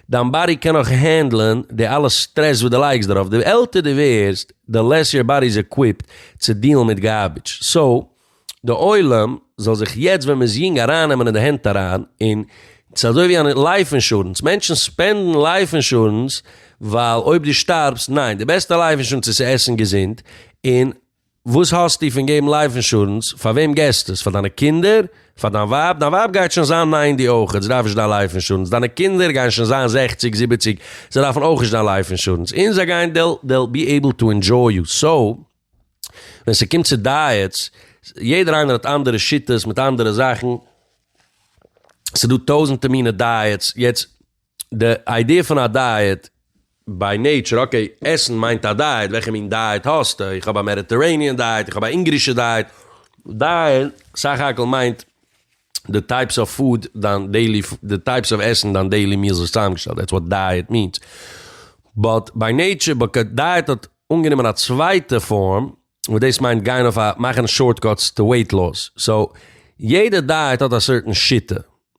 דיין באדי קען נאך הענדלען די אלע סטרעס וואס דו לייגסט דערויף, די עלטער דו ווערסט, די לעס יור באדי איז עקוויפד צו דיעלן מיט גארבידזש, סאו. די עולם זאל זיך יעצט ווען מען איז יונג ארייננעמען אין די הענט אריין און ס'איז אזוי ווי אן לייף אינשורענס, מענטשן ספענדן לייף אינשורענס ווייל אויב דו שטארבסט, ניין, די בעסטע לייף אינשורענס איז צו עסן געזונט, און וואס האסטו פון געבן לייף אינשורענס, פאר וועם געסטו עס, פאר דיינע קינדער, פאר דיין ווייב, דיין ווייב גייט שוין זיין ניינטי אויך, זי דארף נישט דיין לייף אינשורענס, דיינע קינדער גייען שוין זיין זעכציג זיבעציג, זיי דארפן אויך נישט דיין לייף אינשורענס, און זיי גייען דעל בי עיבל טו ענדזשוי יו, סאו. ווען ס'קומט צו דייעטס, יעדער איינער האט אנדערע שיטות מיט אנדערע זאכן, ס'דא טויזענטע מינע דייעטס, יעצט די איידיע פון א דייעט ביי נעיטשער, אקעי עסן מיינט א דייעט, וועלכע מין דייעט האסטו, איך האב א מעדיטערעיניען דייעט, איך האב א אונגארישע דייעט, דייעט סך הכל מיינט די טייפס אוו פוד, דיין דעילי, די טייפס אוו עסן, דיין דעילי מיעלס וואס צוזאמגעשטעלט, דעטס וואט דייעט מיענס, באט ביי נעיטשער, דייעט האט אנגענומען א צווייטע פארם וואס דאס מיינט גיין אויף א מאכן שארט קאטס טו וועיט לאס סאו יעדע דייעט האט א סערטען שיטה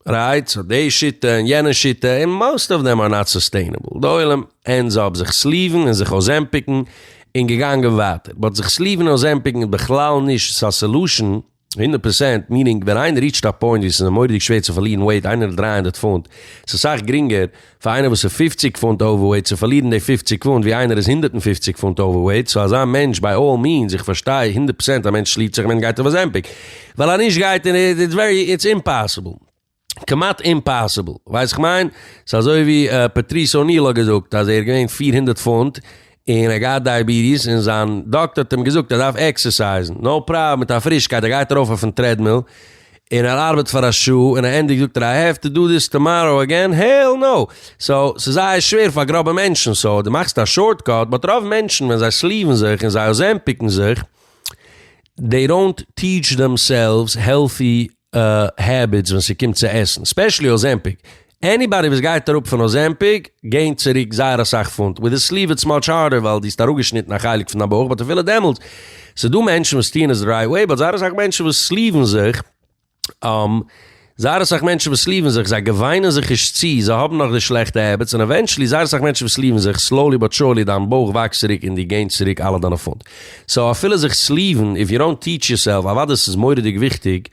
רייט סאו די שיטה און יענע שיטה און מאסט אוו דעם אר נאט סוסטעינעבל די עולם ענדס אפ זיך סליוון און זיך אויסעמפיקן און געגאנגען ווייטער באט זיך סליוון און אויסעמפיקן איז בכלל נישט א סעלושען הונדערט פערסענט, מיענינג ווען איינער ריעטשט א פוינט ווי ס'איז מורא'דיג שווער צו פארלירן וועיט, איינער איז דרײַ הונדערט פונט, ס'איז אסאך גרינגער פאר איינער וואס איז פֿופֿציק פונט אווערוועיט צו פארלירן די פֿופֿציק פונט ווי איינער איז הונדערט און פֿופֿציק פונט אווערוועיט, סאו אזא מענטש ביי אלל מיענס, איך פארשטיי הונדערט פערסענט א מענטש שלירט זיך ווען ער גייט אויף אזעמפיק, ווייל א נישט גייט און איטס אימפאסיבל. כמעט אימפאסיבל, ווייסט איך מיין? ס'איז אזוי ווי פעטריס אוניל האט געזאגט אז ער איז געווען פֿיר הונדערט פונט און ער האט געהאט דייעביטיס און זיין דאקטער האט אים געזאגט ער דארף עקסערסייזן נאו פראבלעם מיט א פרישקייט ער גייט ארויף אויפן טרעדמיל און ער ארבעט פאר א שעה און א ענדיג זאגט ער איי העוו טו דא דיס טאמאראו אגעין העל נאו! סאו ס'איז זייער שווער פאר גראבע מענטשן סאו דו מאכסט א שארטקאט באט רוב מענטשן ווען זיי סליוון זיך און זיי אזעמפיקן זיך דעי דאונט טיעטש דעמסעלווס העלטי העביטס ווען ס'קומט צו עסן, ספעשעלי אזעמפיק, עניבאדי וואס גייט אראפ פון אזעמפיק געינט צוריק זייער אסאך פונט, וויט די סליוו איטס מאטש הארדער ווייל די האסט אראפגעשניטן א חלק פון דיין בויך, באט אפילו דעמאלטס, ס'דא מענטשן וואס טוען עס די רייט וועי, באט זייער אסאך מענטשן וואס סליוון זיך, זייער אסאך מענטשן וואס סליוון זיך, זיי געוויינען זיך נישט צו, זיי האבן נאך די שלעכטע העביטס, און עווענטשעלי זייער אסאך מענטשן וואס סליוון זיך, סלאולי באט סורלי דיין בויך וואקסט צוריק און די געינט צוריק אלע דיינע פונט. סאו אפילו זיך סליוון איף יור און טיעטש יור סעלף, אוודאי ס'איז מוראדיג וויכטיג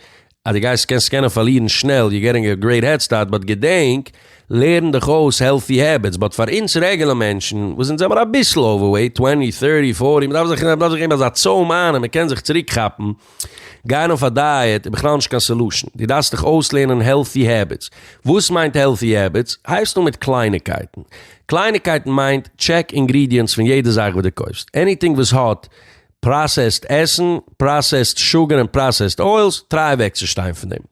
אז די גייסט קענסט קענען פארלירן שנעל יור געטינג א גרעיט העד סטארט באט געדענק לערן דיך אויס העלטי העביטס באט פאר אונז רעגעלע מענטשן וואס אונז זעמער אביסל אווערוועיט טווענטי טערטי פארטי מ'דארף זיך מ'דארף זיך געבן אזא צוים איין אז מ'קען זיך צוריק כאפן. גיין אויף א דייעט איז בכלל נישט קיין סעלושען, דו דארפסט דיך אויסלערנען העלטי העביטס. וואס מיינט העלטי העביטס? הייבסט אן מיט קלייניקייטן. קלייניקייטן מיינט, טשעק אינגרידיענטס פון יעדע זאך וואס דו קויפסט. עניטינג וואס האט פראסעסד עסן, פראסעסד שוגער און פראסעסד אוילס, טריי אוועקצושטיין פון דעם.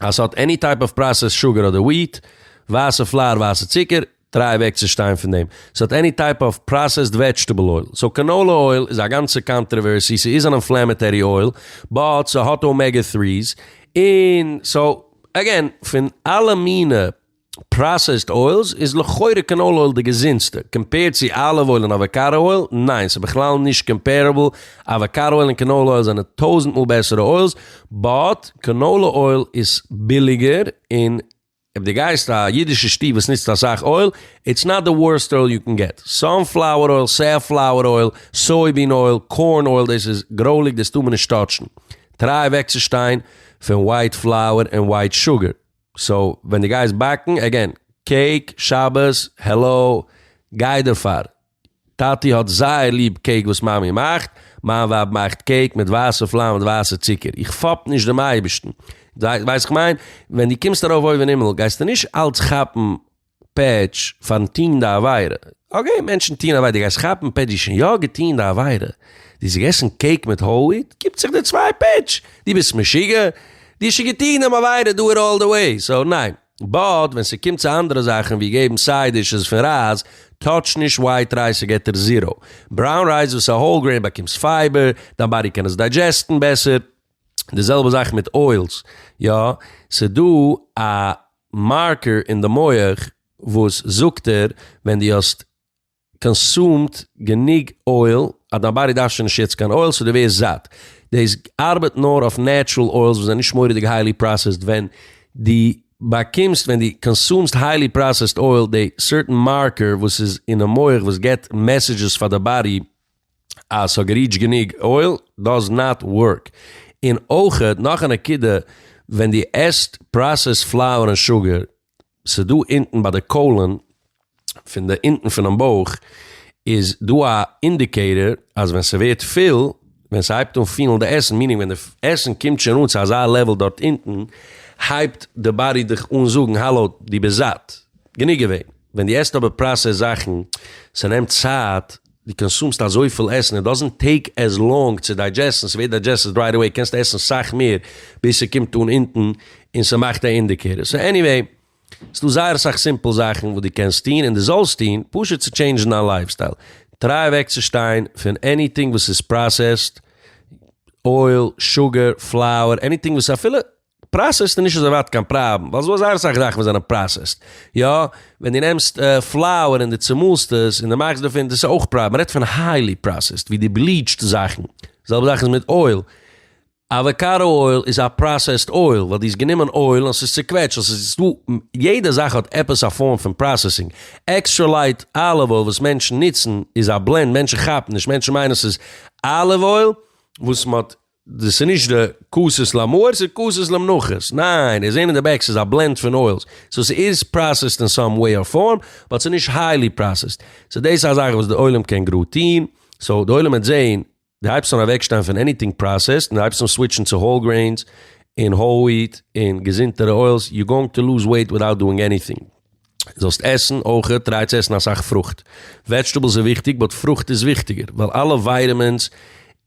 אז ס'האט עני טייפ אוו פראסעסד שוגער אדער וויט, ווייסע פלאר, ווייסע צוקער, טריי אוועק צו שטיין פון דעם. ס'האט עני טייפ אוו פראסעסד וועדזשטעבל אויל. סאו קאנאולע אויל איז א גאנצע קאנטרעווערסי, ס'איז אן אינפלעמעטערי אויל, באט ס'האט אומעגע טריס, און סאו, אגעין, פון אלע מינע פראסעסד אוילס איז לכאורה קענאל אויל די געזונטסטע, קאמפעירד צו אליוו אויל און אוואקאדא אויל? ניין, ס'איז בכלל נישט קאמפערעבל, אוואקאדא אויל און קענאלע אויל זענען טויזענט מאל בעסערע אוילס, באט קענאלע אויל איז ביליגער, און אויב די גייסט א אידישע שטוב וואס נוצט אסאך אויל, איטס נאט די ווארסט אויל יו קען געט, סאנפלאוער אויל, סעפלאוער אויל, סויבין אויל, קארן אויל, דאס איז גרויליג דאס טאר מען נישט טאטשן, טריי אוועקצושטיין פון ווייט פלאוער און ווייט שוגער. סאו ווען די גייסט באקן, עגעין, קעיק, שבת, העלאו, גיי דערפאר. טאטי האט זייער ליב קעיק וואס מאמי מאכט, מיין ווייב מאכט קעיק מיט ווייסע פלאר מיט ווייסע צוקער, איך פאפ נישט דעם אייבערשטן, ווייסט וואס איך מיין? ווען די קומסט ארויף אויבן אין הימל גייסטו נישט אלץ כאפן פעדזש פארן טוהן די עבירה. אקעי מענטשן טוהן עבירה, דו גייסט כאפן פעדזשי שוין יא געטוהן די עבירה, דו האסט געגעסן קעיק מיט האול וויט, גיבט זיך דיר צוויי פעדזש, דו ביסט משוגע? דו האסט שוין געטוהן דעם עבירה דא און אלל די וועי, סאו ניין. באט ווען ס'קומט צו אנדערע זאכן ווי געבן סייד דישעס פון רייז, טאטש נישט ווייט רייז ס'געט דיר זיראו. בראון רייז וואס איז א האול גרעין באקומסט פייבער, דיין באדי קען עס דיידזשעסטן בעסער. די זעלבע זאך מיט אוילס, יא, ס'דא א מארקער אין די מח וואס זאגט דיר ווען דו האסט קאנסומד גענוג אויל אז דיין באדי דארף שוין נישט יעצט קיין אויל סאו דו ווערסט זאט. דאס ארבעט נאר אויף נעטשרעל אוילס וואס זענען נישט מורא'דיג היילי פראסעסד, ווען דו באקומסט, ווען דו קאנסומסט היילי פראסעסד אויל, די סערטען מארקער וואס איז אינעם מח וואס געבט מעסעדזשעס פאר די באדי, אז ס'האט געריעטשט גענוג אויל דאז נאט ווארק. און אויכעט נאך א נקודה, ווען דו עסט פראסעסד פלאוער און שוגער, ס'איז דא אונטן ביי די קאלען פון די אונטן פונעם בויך איז דא א אינדיקעיטער אז ווען ס'ווערט פיל, ווען ס'הייבט אן פילן די עסן, מיענינג ווען די עסן קומט שוין אן צו אזא לעוועל דארט אונטן, הייבט די באדי דיך אן זאגן האלא דו ביסט זאט, גענוג געווען. ווען דו עסט אבער פראסעסד זאכן, ס'נעמט צייט. די קאנסומסט אזויפיל עסן, איט דאזענט טעיק עז לאנג צו דיידזשעסטן, ס'ווערט דיידזשעסטעד רייט עוועי, קענסט עסן סאך מער ביז ס'קומט אן אונטן און ס'מאכט א אינדיקעיטער, סאו עניוועי ס'דא זייער אסאך סימפל זאכן וואס דו קענסט טון און דו זאלסט טון פשוט צו טשעינדזשן דיין לייף סטייל, טריי אוועקצושטיין פון עניטינג וואס איז פראסעסד, אויל, שוגער, פלאוער, עניטינג וואס אפילו פראסעסד איז נישט אזוי ווייט קיין פראבלעם, ווייל ס'דא זייער אסאך זאכן וואס זענען פראסעסד. יא, ווען דו נעמסט פלאוער און דו צומאלסט עס און דו מאכסט דערפון, דאס איז אויך פראסעסד. מ'רעדט פון היילי פראסעסד, ווי דו בליעטשט זאכן. זעלבע זאך איז מיט אויל. אוואקאדא אויל איז א פראסעסד אויל, ווייל דו האסט גענומען אויל און ס'איז צעקוועטשט. און ס'איז דא, יעדע זאך האט עפעס א פארם פון פראסעסינג. עקסטרע לייט אליוו אויל וואס מענטשן נוצן איז א בלענד, מענטשן כאפן נישט, מענטשן מיינען ס'איז אליוו אויל וואס מ'האט דאס איז נישט די כוסות למאור, ס'איז כוסות למנחות. ניין, איר זעהן אין די בעק ס'איז א בלענד פון אוילס. סאו ס'איז פראסעסד אין סאם וועי אר פארם, באט ס'איז נישט היילי פראסעסד. סאו דאס איז א זאך וואס די עולם קען גראד טוהן. סאו די עולם וועט זעהן, די הייבסט אן אוועקשטיין פון עניטינג פראסעסד, און די הייבסט אן סוויטשן צו האול גרעינס, און האול וויט, און געזונטערע אוילס, יו גאוינג טו לוז וועיט וויטאוט דואינג עניטינג. זאלסט עסן אויך, טריי צו עסן אסאך פרוכט, וועדזשטעבלס איז וויכטיג באט פרוכט איז וויכטיגער, ווייל אלע ווייטעמינס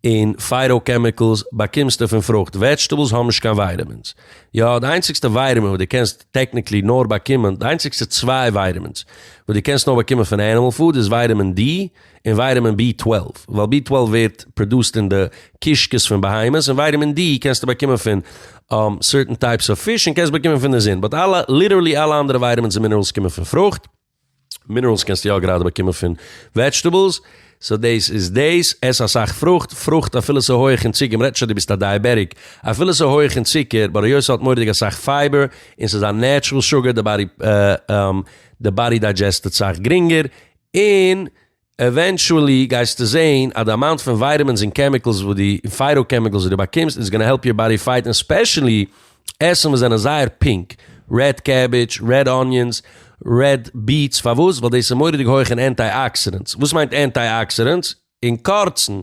און פייטא קעמיקעלס באקומסטו פון פרוכט, וועדזשטעבלס האבן נישט קיין ווייטעמינס, יא די איינציגסטע ווייטעמין וואס די קענסט טעקניקלי נאר באקומען, די איינציגסטע צוויי ווייטעמינס וואס די קענסט נאר באקומען פון ענימעל פוד איז ווייטעמין די און ווייטעמין בי טוועלף, ווייל בי טוועלף ווערט פראדוסט אין די קישקעס פון בהמות, און ווייטעמין די קענסטו באקומען פון סערטען טייפס אוו פיש און קענסט באקומען פון די זון, באט אלע, ליטערלי אלע אנדערע ווייטעמינס און מינערעלס קומען פון פרוכט, מינערעלס קענסטו יא גראדע באקומען פון וועדזשטעבעלס, סאו דאס איז דאס, עס אסאך פרוכט, פרוכט אפילו ס'איז הויעך אין צוקער, מ'רעדט נישט אז דו ביסט א דייעבעטיק, אפילו ס'איז הויעך אין צוקער, באט היות ס'האט מורא'דיג אסאך פייבער, און ס'איז א נעטשרעל שוגער, די באדי די באדי דיידזשעסטעד סאך גרינגער, און עווענטשועלי גייסטו זעהן אז די אמאונט פון ווייטעמינס און קעמיקעלס וואס די און פייטא קעמיקעלס וואס די באקומסט איז גאנא העלפ יור באדי פייט און ספעשעלי עסן וואס זענען זייער פינק, רעד קעבידזש, רעד אניאנס, רעד ביעטס, פארוואס? ווייל דאס איז מוראדיג הויך אין ענטיי אקסידענטס, וואס מיינט ענטיי אקסידענטס? אין קורצן,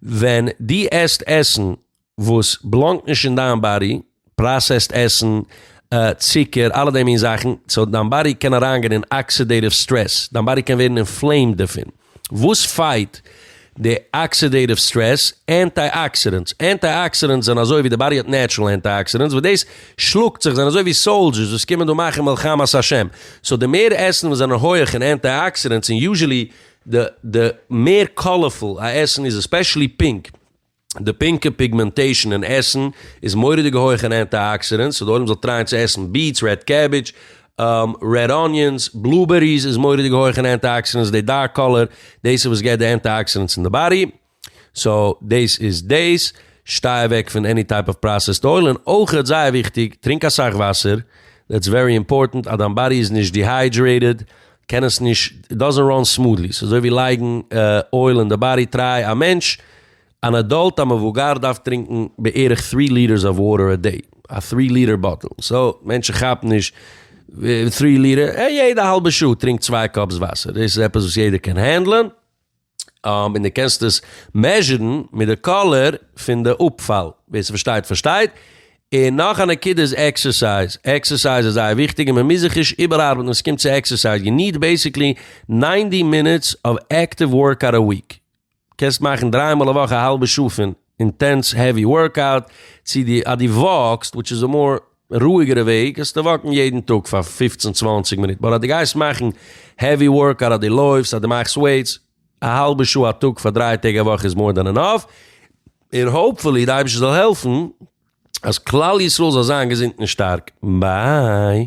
ווען די עסט עסן וואס בלאנגט נישט אין דיין באדי, פראסעסד עסן, צוקער, אלע די מין זאכן, סאו דיין באדי קען אריינגיין אין אקסידעיטיוו סטרעס, דיין באדי קען ווערן אינפלעימד דערפון, וואס פייט די אקסידעיטיוו סטרעס? אנטי אקסידענטס, אנטי אקסידענטס זענען אזוי ווי די באדי האט נעטשרעל אנטי אקסידענטס וואס דאס שלאגט זיך, זענען אזוי ווי סאלדזשערס וואס קומען דא מאכן מלחמת השם, סאו די מער עסן וואס זענען הויעך אין אנטי אקסידענטס, און יוזשעלי די מער קאלערפול א עסן איז, עספעשעלי פינק, די פינקע פיגמענטעישן אין עסן איז מורא'דיג הויך אין אנטי-אקסידענטס, סאו די עולם זאל טרייען צו עסן ביעטס, רעד קעבידזש, רעד אניאנס, בלובעריס איז מורא'דיג הויך אין אנטי-אקסידענטס, די דארק קאלער, דאס איז וואס געבט די אנטי-אקסידענטס אין די באדי, סאו דאס איז דאס, שטיי אוועק פון עני טייפ אוו פראסעסד אויל, און אויכעט זייער וויכטיג, טרינק אסאך וואסער, דעטס ווערי אימפארטענט, אז דיין באדי איז נישט דיהיידרעיטעד, קען עס נישט, איט דאזענט ראן סמודלי, ס'איז אזוי ווי לייגן אויל אין די באדי, טריי א מענטש, אן עדאלט, א מבוגר דארף טרינקן בערך טרי ליטערס אוו וואטער א דעי, א טרי ליטער באטל, סאו מענטשן כאפן נישט טרי ליטער, יעדע האלבע שעה טרינק צוויי קאפס וואסער, דאס איז עפעס וואס יעדער קען הענדלען. און דו קענסט עס מעזשערן מיט די קאלער פון די אפפאל, ווער ס'פארשטייט פארשטייט. און נאך א נקודה איז עקסערסייז, עקסערסייז איז זייער וויכטיג און מען מוז זיך נישט איבערארבעטן ווען ס'קומט צו עקסערסייז, יו ניד בעסיקלי ניינטי מינוטס אוו עקטיוו ווארקאוט א וויק, קענסט מאכן דריי מאל א וואך א האלבע שעה פון אינטענס העווי ווארקאוט, צו די אז דו וואקסט וויטש איז א מאר רואיגערע וועג קענסטו וואקן יעדן טאג פאר פופצן צוואנציג מינוט, באט אז דו גייסט מאכן העווי ווארקאוט אז דו לויפסט אז דו מאכסט וועיטס, א האלבע שעה א טאג פאר דרײַ טעג א וואך איז מאר דען ענאף, און האופפולי די אייבערשטער זאל העלפן אז כלל ישראל זאל זיין געזונט און שטארק. ביי.